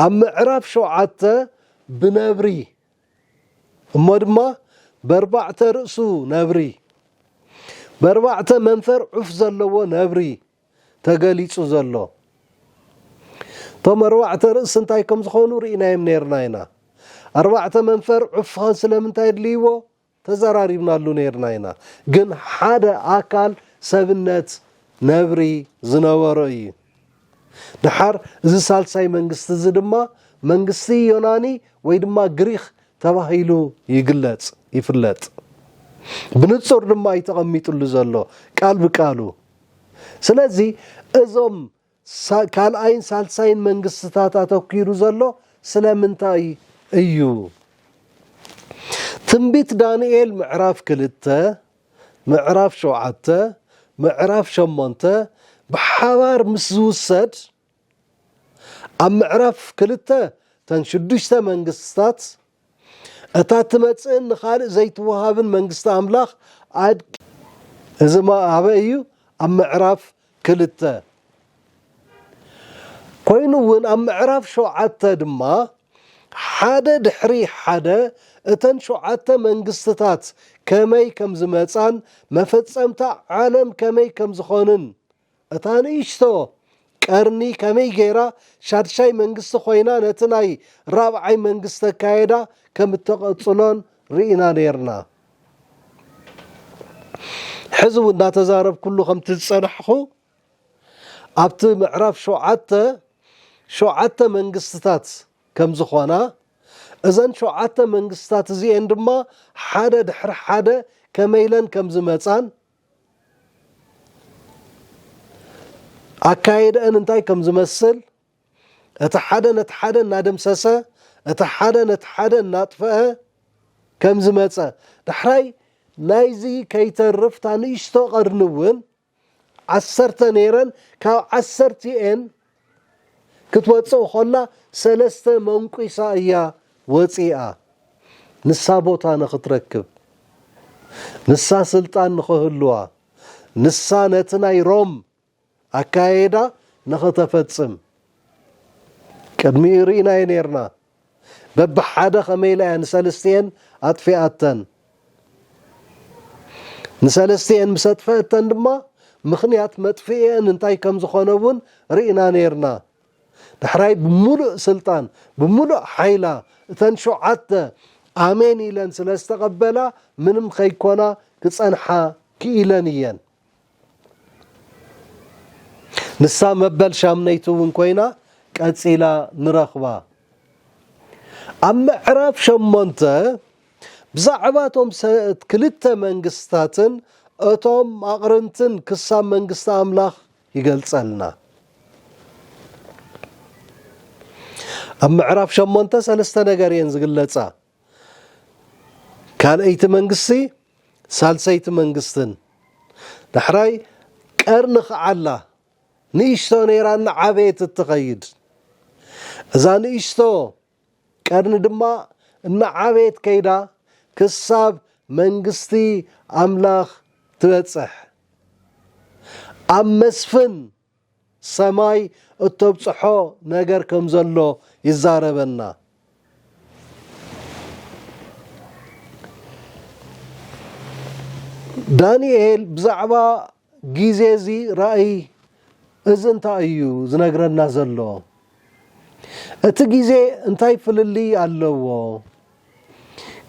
ኣብ ምዕራፍ ሸውዓተ ብነብሪ እሞ ድማ በርባዕተ ርእሱ ነብሪ በርባዕተ መንፈር ዑፍ ዘለዎ ነብሪ ተገሊጹ ዘሎ እቶም ኣርባዕተ ርእሲ እንታይ ከም ዝኾኑ ርኢናዮም ነርና ኢና ኣርባዕተ መንፈር ዑፍ ስለምንታይ ኣድልይዎ ተዘራሪብናሉ ነይርና ኢና ግን ሓደ ኣካል ሰብነት ነብሪ ዝነበሮ እዩ ደሓር እዚ ሳልሳይ መንግስቲ እዚ ድማ መንግስቲ ዮናኒ ወይ ድማ ግሪኽ ተባሂሉ ይግለጽ ይፍለጥ ብንጹር ድማ እዩ ተቐሚጥሉ ዘሎ ቃል ብቃሉ ስለዚ እዞም ካልኣይን ሳልሳይን መንግስትታት ኣተኲሩ ዘሎ ስለምንታይ እዩ? ትንቢት ዳንኤል ምዕራፍ ክልተ፣ ምዕራፍ ሸውዓተ፣ ምዕራፍ ሸሞንተ ብሓባር ምስ ዝውሰድ ኣብ ምዕራፍ ክልተ እተን ሽዱሽተ መንግስትታት እታ እትመጽእን ንኻልእ ዘይትወሃብን መንግስቲ ኣምላኽ ኣድ። እዚ ኣበይ እዩ? ኣብ ምዕራፍ ክልተ። ኮይኑ እውን ኣብ ምዕራፍ ሸውዓተ ድማ ሓደ ድሕሪ ሓደ እተን ሸውዓተ መንግስትታት ከመይ ከም ዝመጻን መፈጸምታ ዓለም ከመይ ከም ዝኾንን እታ ንእሽቶ ቀርኒ ከመይ ገይራ ሻድሻይ መንግስቲ ኮይና ነቲ ናይ ራብዓይ መንግስቲ ኣካይዳ ከም እተቐጽሎን ርኢና ኔርና። ሕዚ እውን እናተዛረብኩሉ ከምቲ ዝጸናሕኹ ኣብቲ ምዕራፍ ሸውዓተ ሸውዓተ መንግስትታት ከም ዝኾና እዘን ሸውዓተ መንግስትታት እዚኤን ድማ ሓደ ድሕሪ ሓደ ከመይ ኢለን ከም ዝመጻን ኣካይደእን እንታይ ከም ዝመስል እቲ ሓደ ነቲ ሓደ እናደምሰሰ እቲ ሓደ ነቲ ሓደ እናጥፈአ ከም ዝመፀ ዳሕራይ ናይዚ ከይተርፍ እታ ንእሽቶ ቀርኒ እውን ዓሰርተ ነይረን ካብ ዓሰርቲኤን ክትወጽእ ኾላ ሰለስተ መንቊሳ እያ ወጺኣ ንሳ ቦታ ንኽትረክብ ንሳ ስልጣን ንኽህልዋ ንሳ ነቲ ናይ ሮም ኣካያይዳ ንኽተፈጽም ቅድሚኡ ርኢናዮ ኔርና። በብሓደ ከመይ ኢላ እያ ንሰልስቲኤን ኣጥፊኣተን። ንሰለስቲኤን ምስ ኣጥፈኣተን ድማ ምኽንያት መጥፍኢኤን እንታይ ከም ዝኾነ እውን ርኢና ነይርና። ዳሕራይ ብምሉእ ስልጣን ብምሉእ ሓይላ እተን ሸውዓተ ኣሜን ኢለን ስለ ዝተቐበላ ምንም ከይኮና ክጸንሓ ክኢለን እየን። ንሳ መበል ሻምነይቲ እውን ኮይና ቀጺላ ንረኽባ። ኣብ ምዕራፍ ሸሞንተ ብዛዕባ እቶም ክልተ መንግስታትን እቶም ኣቕርንትን ክሳብ መንግስቲ ኣምላኽ ይገልጸልና። ኣብ ምዕራፍ ሸሞንተ ሰለስተ ነገር እየን ዝግለጻ። ካልኣይቲ መንግስቲ ሳልሰይቲ መንግስትን ዳሕራይ ቀርኒ ክዓላ ንእሽቶ ነይራ እናዓበየት እትኸይድ እዛ ንእሽቶ ቀርኒ ድማ እናዓበየት ከይዳ ክሳብ መንግስቲ ኣምላኽ ትበጽሕ ኣብ መስፍን ሰማይ እተብጽሖ ነገር ከም ዘሎ ይዛረበና። ዳንኤል ብዛዕባ ግዜ እዚ ራእይ እዚ እንታይ እዩ ዝነግረና ዘሎ? እቲ ግዜ እንታይ ፍልልይ ኣለዎ?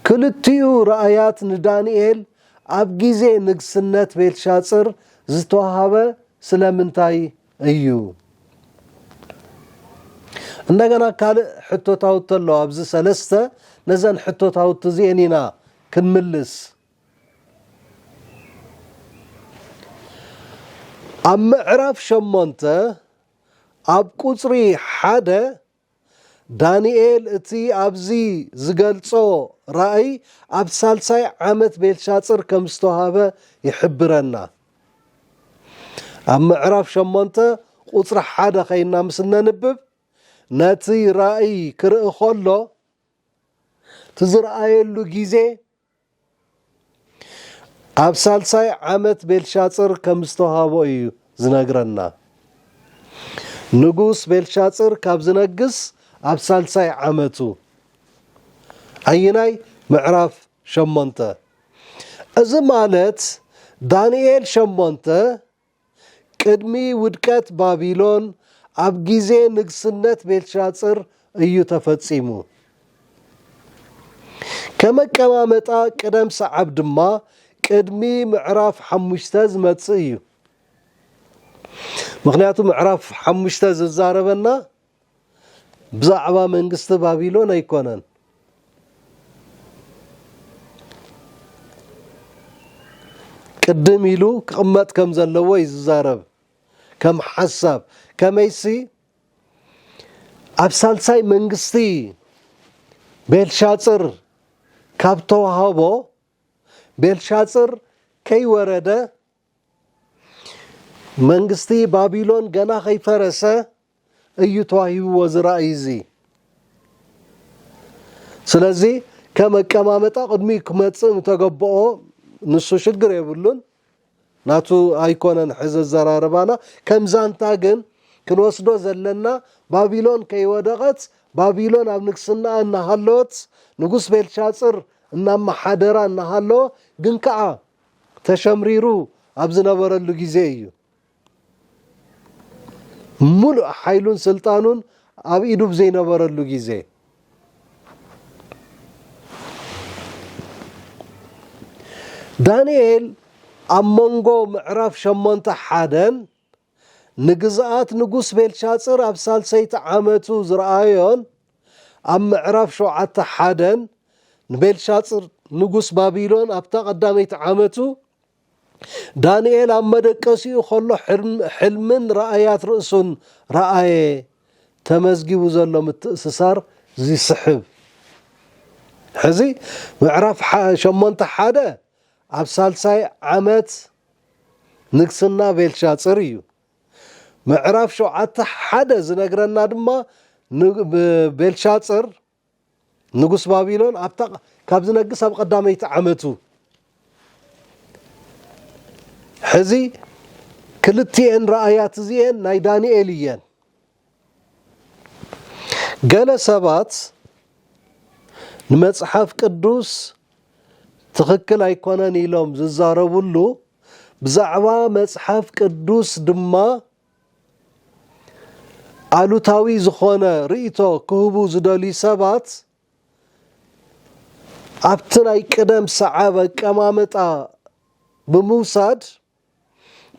ክልቲኡ ራእያት ንዳንኤል ኣብ ግዜ ንግስነት ቤልሻጽር ዝተዋህበ ስለምንታይ እዩ? እንደገና ካልእ ሕቶታውቲ ኣሎ፣ ኣብዚ ሰለስተ ነዘን ሕቶታውቲ እዚኤን ኢና ክንምልስ። ኣብ ምዕራፍ ሸሞንተ ኣብ ቁጽሪ ሓደ ዳንኤል እቲ ኣብዚ ዝገልጾ ራእይ ኣብ ሳልሳይ ዓመት ቤልሻጽር ከም ዝተዋህበ ይሕብረና። ኣብ ምዕራፍ ሸሞንተ ቁጽሪ ሓደ ከይና ምስ እነንብብ ነቲ ራእይ ክርኢ ከሎ እቲ ዝረኣየሉ ግዜ ኣብ ሳልሳይ ዓመት ቤልሻጽር ከም ዝተዋህቦ እዩ ዝነግረና። ንጉስ ቤልሻጽር ካብ ዝነግስ ኣብ ሳልሳይ ዓመቱ። ኣይናይ ምዕራፍ ሸሞንተ እዚ ማለት ዳንኤል ሸሞንተ ቅድሚ ውድቀት ባቢሎን ኣብ ግዜ ንግስነት ቤልሻጽር እዩ ተፈጺሙ። ከም ኣቀማምጣ ቅደም ሰዓብ ድማ ቅድሚ ምዕራፍ ሓሙሽተ ዝመጽእ እዩ። ምኽንያቱ ምዕራፍ ሓሙሽተ ዝዛረበና ብዛዕባ መንግስቲ ባቢሎን ኣይኮነን። ቅድም ኢሉ ክቕመጥ ከም ዘለዎ እዩ ዝዛረብ ከም ሓሳብ ከመይሲ ኣብ ሳልሳይ መንግስቲ ቤልሻፅር ካብ ተዋህቦ ቤልሻፅር ከይወረደ መንግስቲ ባቢሎን ገና ከይፈረሰ እዩ ተዋሂብዎ እዚ ራእይ እዚ ስለዚ ከም ኣቀማመጣ ቅድሚ ክመፅእ ምተገበኦ ንሱ ሽግር የብሉን ናቱ ኣይኮነን ሕዚ ዘራርባና ከም ዛንታ ግን ክንወስዶ ዘለና ባቢሎን ከይወደቐት ባቢሎን ኣብ ንግስናኣ እናሃለወት ንጉስ ቤልሻፅር እናመሓደራ እናሃለወ ግን ከዓ ተሸምሪሩ ኣብ ዝነበረሉ ግዜ እዩ ሙሉእ ሓይሉን ስልጣኑን ኣብ ኢዱ ብዘይነበረሉ ግዜ ዳንኤል ኣብ መንጎ ምዕራፍ ሸሞንተ ሓደን ንግዝኣት ንጉስ ቤልሻጽር ኣብ ሳልሰይቲ ዓመቱ ዝረኣዮን ኣብ ምዕራፍ ሸውዓተ ሓደን ንቤልሻጽር ንጉስ ባቢሎን ኣብታ ቀዳመይቲ ዓመቱ ዳንኤል ኣብ መደቀሲኡ ከሎ ሕልምን ራእያት ርእሱን ረኣየ ተመዝጊቡ ዘሎ ምትእስሳር ዚስሕብ ሕዚ ምዕራፍ ሸሞንተ ሓደ ኣብ ሳልሳይ ዓመት ንግስና ቤልሻጽር እዩ። ምዕራፍ ሸውዓተ ሓደ ዝነግረና ድማ ቤልሻጽር ንጉስ ባቢሎን ኣብታ ካብ ዝነግስ ኣብ ቀዳመይቲ ዓመቱ ሕዚ ክልቲኤን ራእያት እዚኤን ናይ ዳንኤል እየን። ገለ ሰባት ንመጽሓፍ ቅዱስ ትኽክል ኣይኮነን ኢሎም ዝዛረብሉ ብዛዕባ መጽሓፍ ቅዱስ ድማ ኣሉታዊ ዝኾነ ርእይቶ ክህቡ ዝደልዩ ሰባት ኣብቲ ናይ ቅደም ሰዓብ ኣቀማምጣ ብምውሳድ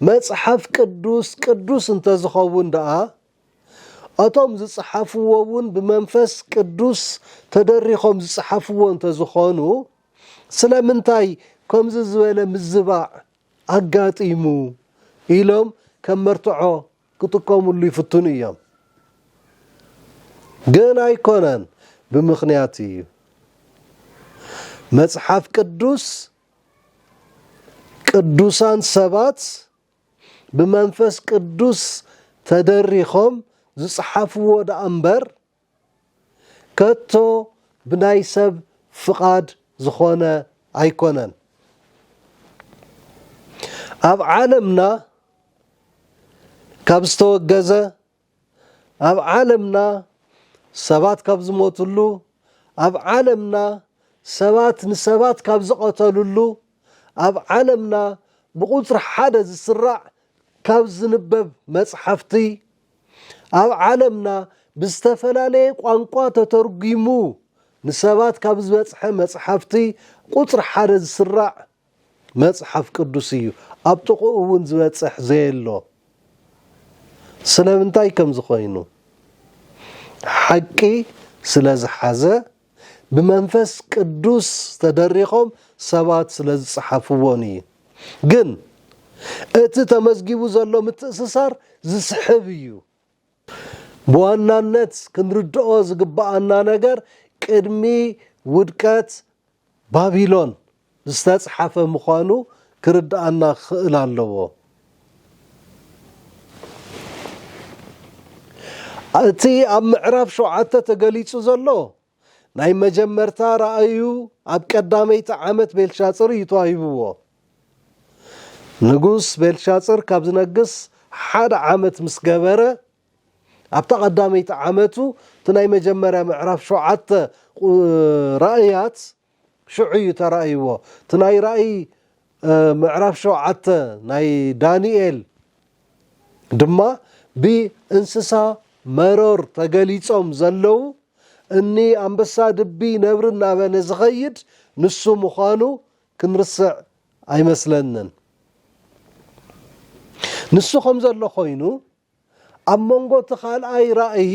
መጽሓፍ ቅዱስ ቅዱስ እንተ ዝኸውን ደኣ እቶም ዝጸሓፍዎ እውን ብመንፈስ ቅዱስ ተደሪኾም ዝጸሓፍዎ እንተ ዝኾኑ ስለምንታይ ከምዚ ዝበለ ምዝባዕ ኣጋጢሙ ኢሎም ከም መርትዖ ክጥቀምሉ ይፍትኑ እዮም። ግን ኣይኮነን ብምኽንያት እዩ። መጽሓፍ ቅዱስ ቅዱሳን ሰባት ብመንፈስ ቅዱስ ተደሪኾም ዝጸሓፍዎ ደኣ እምበር ከቶ ብናይ ሰብ ፍቓድ ዝኾነ ኣይኮነን። ኣብ ዓለምና ካብ ዝተወገዘ ኣብ ዓለምና ሰባት ካብ ዝሞትሉ፣ ኣብ ዓለምና ሰባት ንሰባት ካብ ዝቐተልሉ፣ ኣብ ዓለምና ብቑጽሪ ሓደ ዝስራዕ ካብ ዝንበብ መጽሓፍቲ፣ ኣብ ዓለምና ብዝተፈላለየ ቋንቋ ተተርጒሙ ንሰባት ካብ ዝበጽሐ መጽሓፍቲ ቁጽሪ ሓደ ዝስራዕ መጽሓፍ ቅዱስ እዩ ኣብ ጥቅኡ ውን ዝበጽሕ ዘየሎ ስለምንታይ ከምዚ ኮይኑ ሓቂ ስለ ዝሓዘ ብመንፈስ ቅዱስ ተደሪኾም ሰባት ስለ ዝጽሓፍዎን እዩ ግን እቲ ተመዝጊቡ ዘሎ ምትእስሳር ዝስሕብ እዩ። ብዋናነት ክንርድኦ ዝግብኣና ነገር ቅድሚ ውድቀት ባቢሎን ዝተፅሓፈ ምዃኑ ክርድኣና ክኽእል ኣለዎ። እቲ ኣብ ምዕራፍ ሸውዓተ ተገሊፁ ዘሎ ናይ መጀመርታ ራእዩ ኣብ ቀዳመይቲ ዓመት ቤልሻጽር እዩ ተዋሂብዎ። ንጉስ ቤልሻጽር ካብ ዝነግስ ሓደ ዓመት ምስ ገበረ፣ ኣብታ ቀዳመይቲ ዓመቱ እቲ ናይ መጀመርያ ምዕራፍ ሸውዓተ ራእያት፣ ሽዑ እዩ ተራእይዎ እቲ ናይ ራእይ ምዕራፍ ሸውዓተ ናይ ዳንኤል ድማ ብእንስሳ መሮር ተገሊጾም ዘለዉ እኒ ኣንበሳ ድቢ ነብሪ እናበለ ዝኸይድ ንሱ ምዃኑ ክንርስዕ ኣይመስለንን ንሱ ከም ዘሎ ኮይኑ ኣብ መንጎ እቲ ካልኣይ ራእይ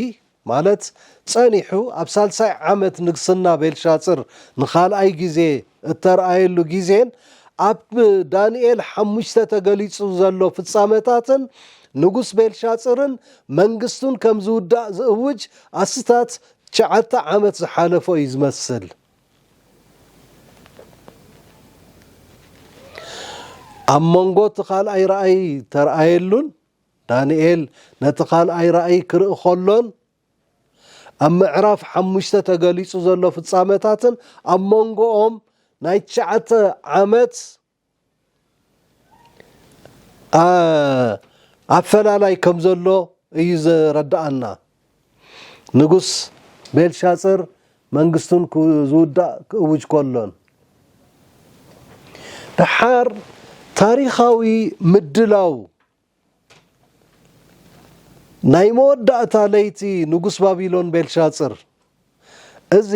ማለት ጸኒሑ ኣብ ሳልሳይ ዓመት ንግስና ቤልሻጽር ንኻልኣይ ግዜ እተርኣየሉ ግዜን ኣብ ዳንኤል ሓሙሽተ ተገሊጹ ዘሎ ፍጻመታትን ንጉስ ቤልሻጽርን መንግስቱን ከም ዝውዳእ ዝእውጅ ኣስታት ትሽዓተ ዓመት ዝሓለፎ እዩ ዝመስል። ኣብ መንጎ እቲ ካልኣይ ራእይ እተርኣየሉን ዳንኤል ነቲ ካልኣይ ራእይ ክርኢ ኸሎን ኣብ ምዕራፍ ሓሙሽተ ተገሊጹ ዘሎ ፍጻመታትን ኣብ መንጎኦም ናይ ትሽዓተ ዓመት ኣፈላላይ ከም ዘሎ እዩ ዘረድኣና። ንጉስ ቤልሻጽር መንግስቱን ክዝውዳእ ክእውጅ ከሎን፣ ደሓር ታሪኻዊ ምድላው ናይ መወዳእታ ለይቲ ንጉስ ባቢሎን ቤልሻጽር፣ እዚ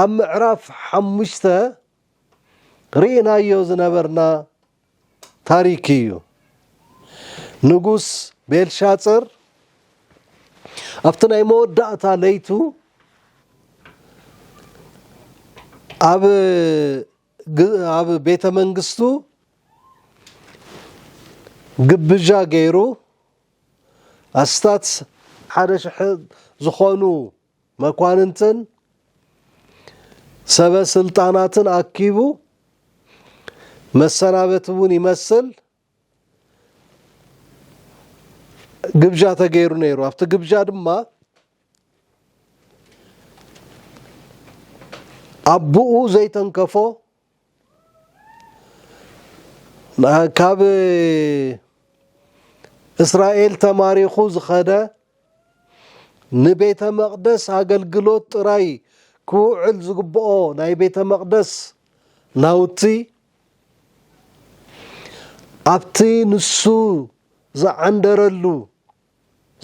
ኣብ ምዕራፍ ሓሙሽተ ርኢናዮ ዝነበርና ታሪክ እዩ። ንጉስ ቤልሻፅር ኣብቲ ናይ መወዳእታ ለይቱ ኣብ ኣብ ቤተ መንግስቱ ግብዣ ገይሩ ኣስታት ሓደ ሽሕ ዝኾኑ መኳንንትን ሰበ ስልጣናትን ኣኪቡ መሰናበቲ እውን ይመስል ግብዣ ተገይሩ ነይሩ ኣብቲ ግብዣ ድማ ኣቦኡ ዘይተንከፎ ካብ እስራኤል ተማሪኹ ዝኸደ ንቤተ መቕደስ ኣገልግሎት ጥራይ ክውዕል ዝግብኦ ናይ ቤተ መቕደስ ናውቲ ኣብቲ ንሱ ዝዓንደረሉ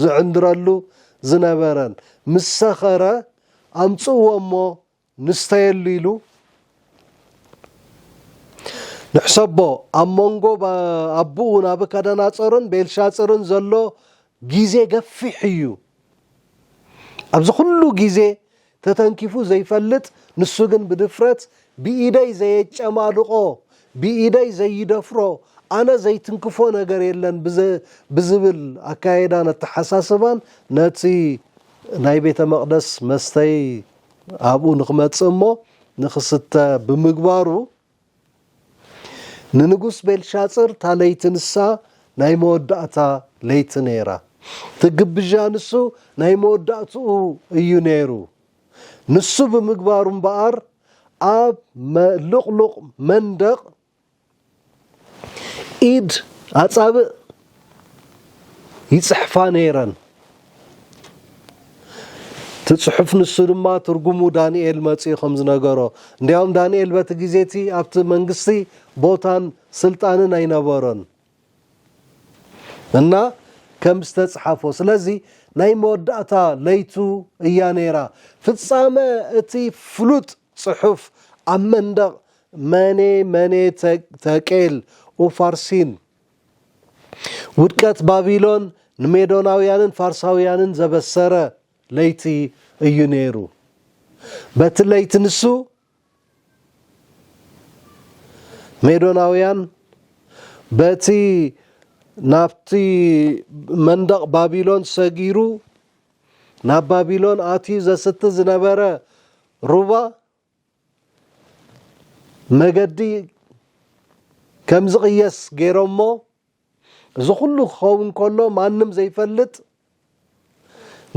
ዝዕንድረሉ ዝነበረን ምስ ሰኸረ ኣምጽእዎ እሞ ንስተየሉ ኢሉ ንሕሰቦ ኣብ መንጎ ኣቡኡ ናቡከደናፆርን ቤልሻፅርን ዘሎ ግዜ ገፊሕ እዩ ኣብዚ ኩሉ ግዜ ተተንኪፉ ዘይፈልጥ ንሱ ግን ብድፍረት ብኢደይ ዘየጨማልቆ ብኢደይ ዘይደፍሮ ኣነ ዘይትንክፎ ነገር የለን ብዝብል ኣካየዳን ኣተሓሳስባን ነቲ ናይ ቤተ መቅደስ መስተይ ኣብኡ ንኽመጽእ እሞ ንኽስተ ብምግባሩ፣ ንንጉስ ቤልሻጽር እታ ለይቲ ንሳ ናይ መወዳእታ ለይቲ ነይራ። እቲ ግብዣ ንሱ ናይ መወዳእትኡ እዩ ነይሩ። ንሱ ብምግባሩ እምበኣር ኣብ ልቕሉቕ መንደቕ ኢድ ኣጻብእ ይጽሕፋ ነይረን። እቲ ጽሑፍ ንሱ ድማ ትርጉሙ ዳንኤል መጺኡ ከም ዝነገሮ፣ እንዲያውም ዳንኤል በቲ ግዜ እቲ ኣብቲ መንግስቲ ቦታን ስልጣንን ኣይነበሮን እና ከም ዝተጽሓፎ። ስለዚ ናይ መወዳእታ ለይቱ እያ ነይራ። ፍጻመ እቲ ፍሉጥ ጽሑፍ ኣብ መንደቕ መኔ መኔ ተቄል ኡፋርሲን ውድቀት ባቢሎን ንሜዶናውያንን ፋርሳውያንን ዘበሰረ ለይቲ እዩ ነይሩ። በቲ ለይቲ ንሱ ሜዶናውያን በቲ ናብቲ መንደቕ ባቢሎን ሰጊሩ ናብ ባቢሎን ኣትዩ ዘስቲ ዝነበረ ሩባ መገዲ ከም ዝቕየስ ገይሮሞ እዚ ኩሉ ክኸውን ከሎ ማንም ዘይፈልጥ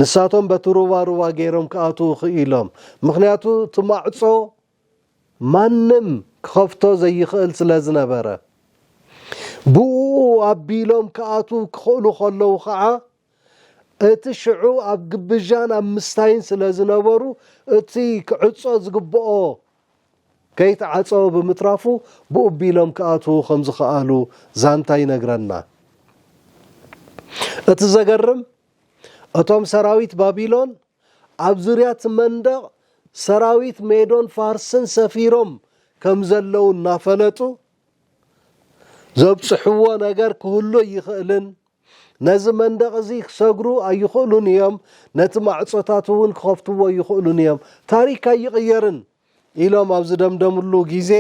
ንሳቶም በቲ ሩባ ሩባ ገይሮም ክኣትዉ ክኢሎም ምክንያቱ እቲ ማዕፆ ማንም ክኸፍቶ ዘይኽእል ስለ ዝነበረ ብእኡ ኣቢሎም ክኣትዉ ክኽእሉ ከለዉ ከዓ እቲ ሽዑ ኣብ ግብዣን ኣብ ምስታይን ስለ ዝነበሩ እቲ ክዕጾ ዝግብኦ ከይተዓጸወ ብምትራፉ ብኡ ቢሎም ክኣትዉ ከም ዝኸኣሉ ዛንታ ይነግረና። እቲ ዘገርም እቶም ሰራዊት ባቢሎን ኣብ ዙርያ እቲ መንደቕ ሰራዊት ሜዶን ፋርስን ሰፊሮም ከም ዘለዉ እናፈለጡ ዘብጽሕዎ ነገር ክህሉ ኣይኽእልን። ነዚ መንደቕ እዚ ክሰግሩ ኣይኽእሉን እዮም፣ ነቲ ማዕጾታት እውን ክኸፍትዎ ኣይኽእሉን እዮም፣ ታሪክ ኣይቕየርን ኢሎም ኣብ ዝደምደምሉ ግዜ፣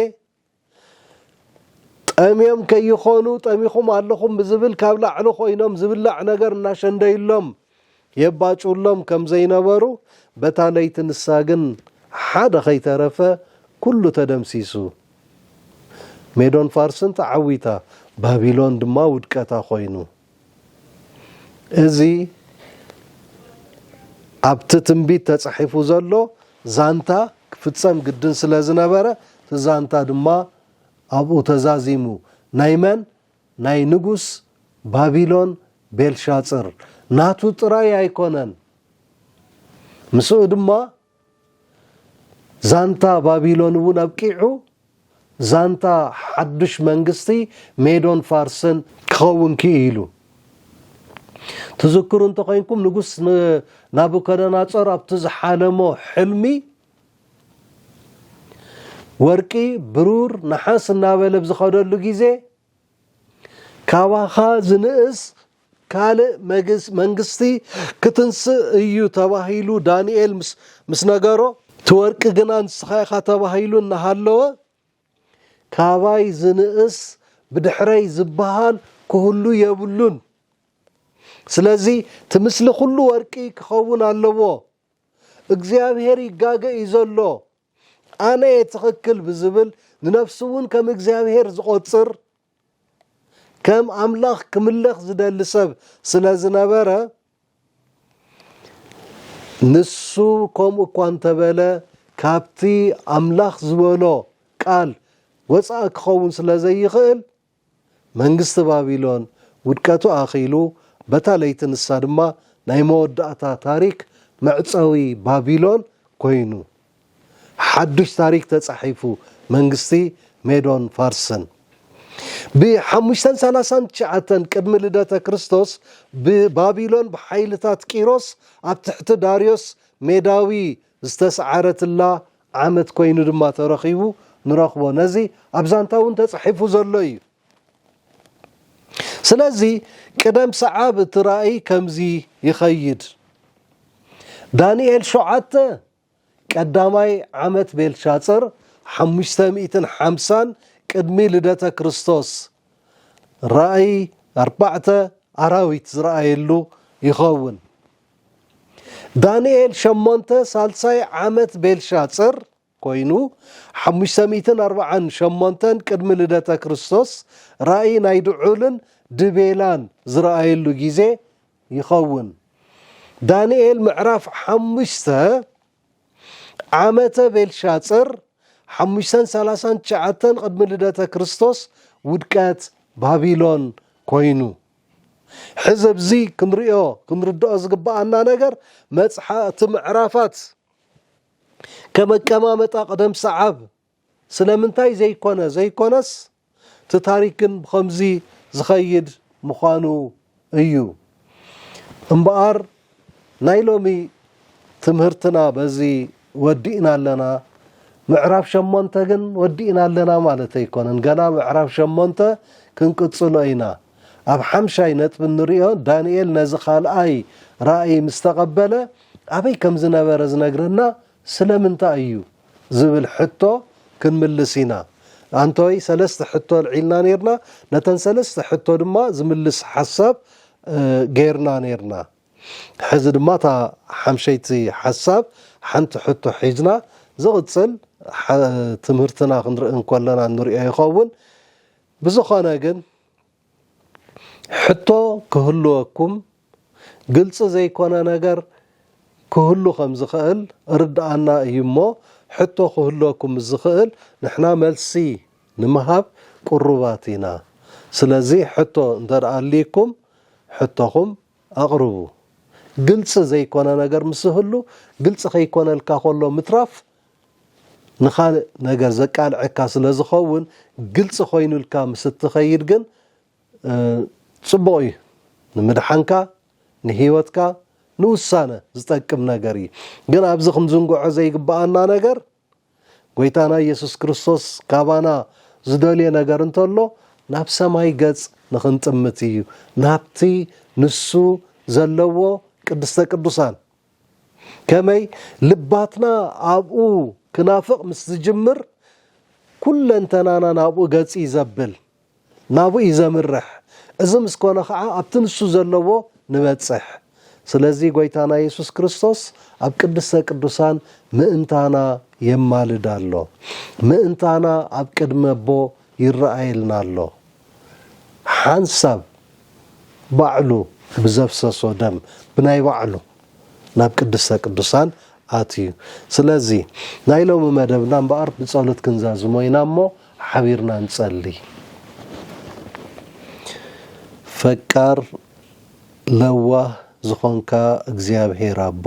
ጠምዮም ከይኾኑ ጠሚኹም ኣለኹም ብዝብል ካብ ላዕሊ ኮይኖም ዝብላዕ ነገር እናሸንደዩሎም፣ የባጭውሎም ከም ዘይነበሩ በታ ለይቲ ንሳ ግን ሓደ ከይተረፈ ኩሉ ተደምሲሱ ሜዶን ፋርስን ተዓዊታ ባቢሎን ድማ ውድቀታ ኮይኑ እዚ ኣብቲ ትንቢት ተጻሒፉ ዘሎ ዛንታ ክፍጸም ግድን ስለ ዝነበረ እቲ ዛንታ ድማ ኣብኡ ተዛዚሙ ናይ መን ናይ ንጉስ ባቢሎን ቤልሻጽር ናቱ ጥራይ ኣይኮነን። ምስኡ ድማ ዛንታ ባቢሎን እውን ኣብቂዑ ዛንታ ሓዱሽ መንግስቲ ሜዶን ፋርስን ክኸውን ክኢሉ። ትዝክሩ እንተኾይንኩም ንጉስ ናቡከደናጾር ኣብቲ ዝሓለሞ ሕልሚ፣ ወርቂ ብሩር ነሓስ እናበለ ብዝኸደሉ ግዜ ካባኻ ዝንእስ ካልእ መንግስቲ ክትንስእ እዩ ተባሂሉ ዳንኤል ምስ ነገሮ እቲ ወርቂ ግና ንስኻ ኢኻ ተባሂሉ እናሃለወ ካባይ ዝንእስ ብድሕረይ ዝበሃል ክህሉ የብሉን ስለዚ እቲ ምስሊ ኩሉ ወርቂ ክኸውን ኣለዎ እግዚኣብሔር ይጋገ እዩ ዘሎ ኣነ እየ ትኽክል ብዝብል ንነፍሱ እውን ከም እግዚኣብሔር ዝቖፅር ከም ኣምላኽ ክምለኽ ዝደሊ ሰብ ስለ ዝነበረ ንሱ ከምኡ እኳ እንተበለ ካብቲ ኣምላኽ ዝበሎ ቃል ወፃኢ ክኸውን ስለ ዘይኽእል መንግስቲ ባቢሎን ውድቀቱ ኣኺሉ በታ ለይቲ ንሳ ድማ ናይ መወዳእታ ታሪክ መዕጸዊ ባቢሎን ኮይኑ ሓዱሽ ታሪክ ተጻሒፉ መንግስቲ ሜዶን ፋርስን ብ ሓሙሽተ ሰላሳ ትሽዓተ ቅድሚ ልደተ ክርስቶስ ብ ባቢሎን ብሓይልታት ቂሮስ ኣብ ትሕቲ ዳርዮስ ሜዳዊ ዝተስዓረትላ ዓመት ኮይኑ ድማ ተረኺቡ ንረኽቦ። ነዚ ኣብ ዛንታ እውን ተጻሒፉ ዘሎ ኢዩ። ስለዚ ቅደም ሰዓብ እቲ ራእይ ከምዚ ይኸይድ፣ ዳንኤል ሸውዓተ ቀዳማይ ዓመት ቤልሻጽር ሓሙሽተ ሚእትን ሓምሳን ቅድሚ ልደተ ክርስቶስ ራእይ ኣርባዕተ ኣራዊት ዝረኣየሉ ይኸውን። ዳኒኤል ሸሞንተ ሳልሳይ ዓመት ቤልሻጽር ኮይኑ ሓሙሽተ ሚእትን ኣርብዓን ሸሞንተን ቅድሚ ልደተ ክርስቶስ ራኢ ናይ ድዑልን ድቤላን ዝረኣየሉ ግዜ ይኸውን። ዳኒኤል ምዕራፍ ሓሙሽተ ዓመተ ቤልሻጽር ሓሙሽተን ሰላሳን ትሽዓተን ቅድሚ ልደተ ክርስቶስ ውድቀት ባቢሎን ኮይኑ። ሕዚ ኣብዚ ክንርእዮ ክንርድኦ ዝግበኣና ነገር መጽሓ እቲ ምዕራፋት ከም ኣቀማመጣ ቅደም ሰዓብ ስለምንታይ ዘይኮነ ዘይኮነስ እቲ ታሪክ ግን ብኸምዚ ዝኸይድ ምዃኑ እዩ እምበኣር ናይ ሎሚ ትምህርትና በዚ ወዲእና ኣለና። ምዕራፍ ሸሞንተ ግን ወዲእና ኣለና ማለት ኣይኮነን። ገና ምዕራፍ ሸሞንተ ክንቅጽሎ ኢና። ኣብ ሓምሻይ ነጥቢ እንርእዮ ዳንኤል ነዚ ካልኣይ ራእይ ምስ ተቐበለ ኣበይ ከም ዝነበረ ዝነግረና ስለምንታይ እዩ ዝብል ሕቶ ክንምልስ ኢና። ኣንቶይ ሰለስተ ሕቶ ኣልዒልና ኔርና፣ ነተን ሰለስተ ሕቶ ድማ ዝምልስ ሓሳብ ጌርና ኔርና። ሕዚ ድማ እታ ሓምሸይቲ ሓሳብ ሓንቲ ሕቶ ሒዝና ዝቕጽል ትምህርትና ክንርኢ እንከለና እንሪኦ ይኸውን። ብዝኾነ ግን ሕቶ ክህልወኩም ግልፂ ዘይኮነ ነገር ክህሉ ከም ዝኸእል እርድኣና እዩ እሞ ሕቶ ክህልወኩም ምስ ዝኸእል ንሕና መልሲ ንምሃብ ቅሩባት ኢና ስለዚ ሕቶ እንተ ኣልይኩም ሕቶኹም ኣቕርቡ ግልፂ ዘይኮነ ነገር ምስ ዝህሉ ግልፂ ከይኮነልካ ከሎ ምትራፍ ንኻልእ ነገር ዘቃልዐካ ስለ ዝኸውን ግልፂ ኮይኑልካ ምስ እትኸይድ ግን ፅቡቕ እዩ። ንምድሓንካ፣ ንህይወትካ፣ ንውሳነ ዝጠቅም ነገር እዩ። ግን ኣብዚ ክንዝንግዖ ዘይግበኣና ነገር ጎይታና ኢየሱስ ክርስቶስ ካባና ዝደልዮ ነገር እንተሎ ናብ ሰማይ ገፅ ንኽንጥምት እዩ። ናብቲ ንሱ ዘለዎ ቅድስተ ቅዱሳን ከመይ ልባትና ኣብኡ ክናፍቕ ምስ ዝጅምር፣ ኩለንተናና ናብኡ ገጽይ ዘብል፣ ናብኡይ ዘምርሕ፣ እዚ ምስ ኮነ ኸዓ ኣብቲ ንሱ ዘለዎ ንበጽሕ። ስለዚ ጎይታና የሱስ ክርስቶስ ኣብ ቅድስተ ቅዱሳን ምእንታና የማልድ ኣሎ። ምእንታና ኣብ ቅድሚ ኣቦ ይረኣየልና ኣሎ። ሓንሳብ ባዕሉ ብዘፍሰሶ ደም ብናይ ባዕሉ ናብ ቅድስተ ቅዱሳን ኣትዩ ስለዚ ናይ ሎሚ መደብና እምበኣር ብጸሎት ክንዛዝሞ ኢና እሞ ሓቢርና ንጸሊ ፈቃር ለዋህ ዝኾንካ እግዚኣብሔር ኣቦ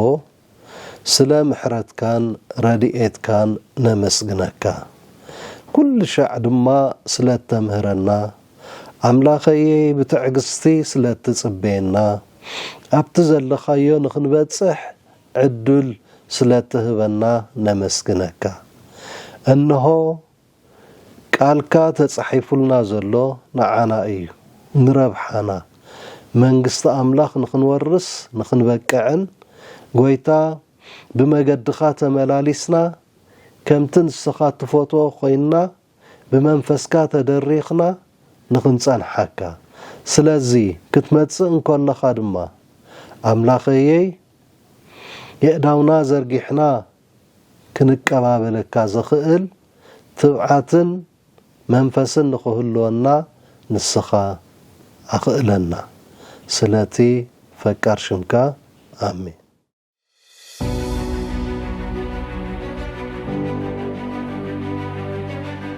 ስለ ምሕረትካን ረድኤትካን ነመስግነካ ኩልሻዕ ድማ ስለ እተምህረና ኣምላኸይይ ብትዕግስቲ ስለ እትጽበየና ኣብቲ ዘለኻዮ ንኽንበጽሕ ዕዱል ስለ እትህበና ነመስግነካ እንሆ ቃልካ ተጻሒፉልና ዘሎ ንዓና እዩ ንረብሓና መንግስቲ ኣምላኽ ንኽንወርስ ንኽንበቅዕን ጎይታ ብመገድኻ ተመላሊስና ከምቲ ንስኻ ትፈትዎ ኮይንና ብመንፈስካ ተደሪኽና ንኽንጸንሓካ ስለዚ ክትመጽእ እንከለኻ ድማ ኣምላኸይይ የእዳውና ዘርጊሕና ክንቀባበለካ ዘኽእል ትብዓትን መንፈስን ንኽህልወና ንስኻ ኣኽእለና ስለቲ ፈቃር ሽምካ ኣሜን።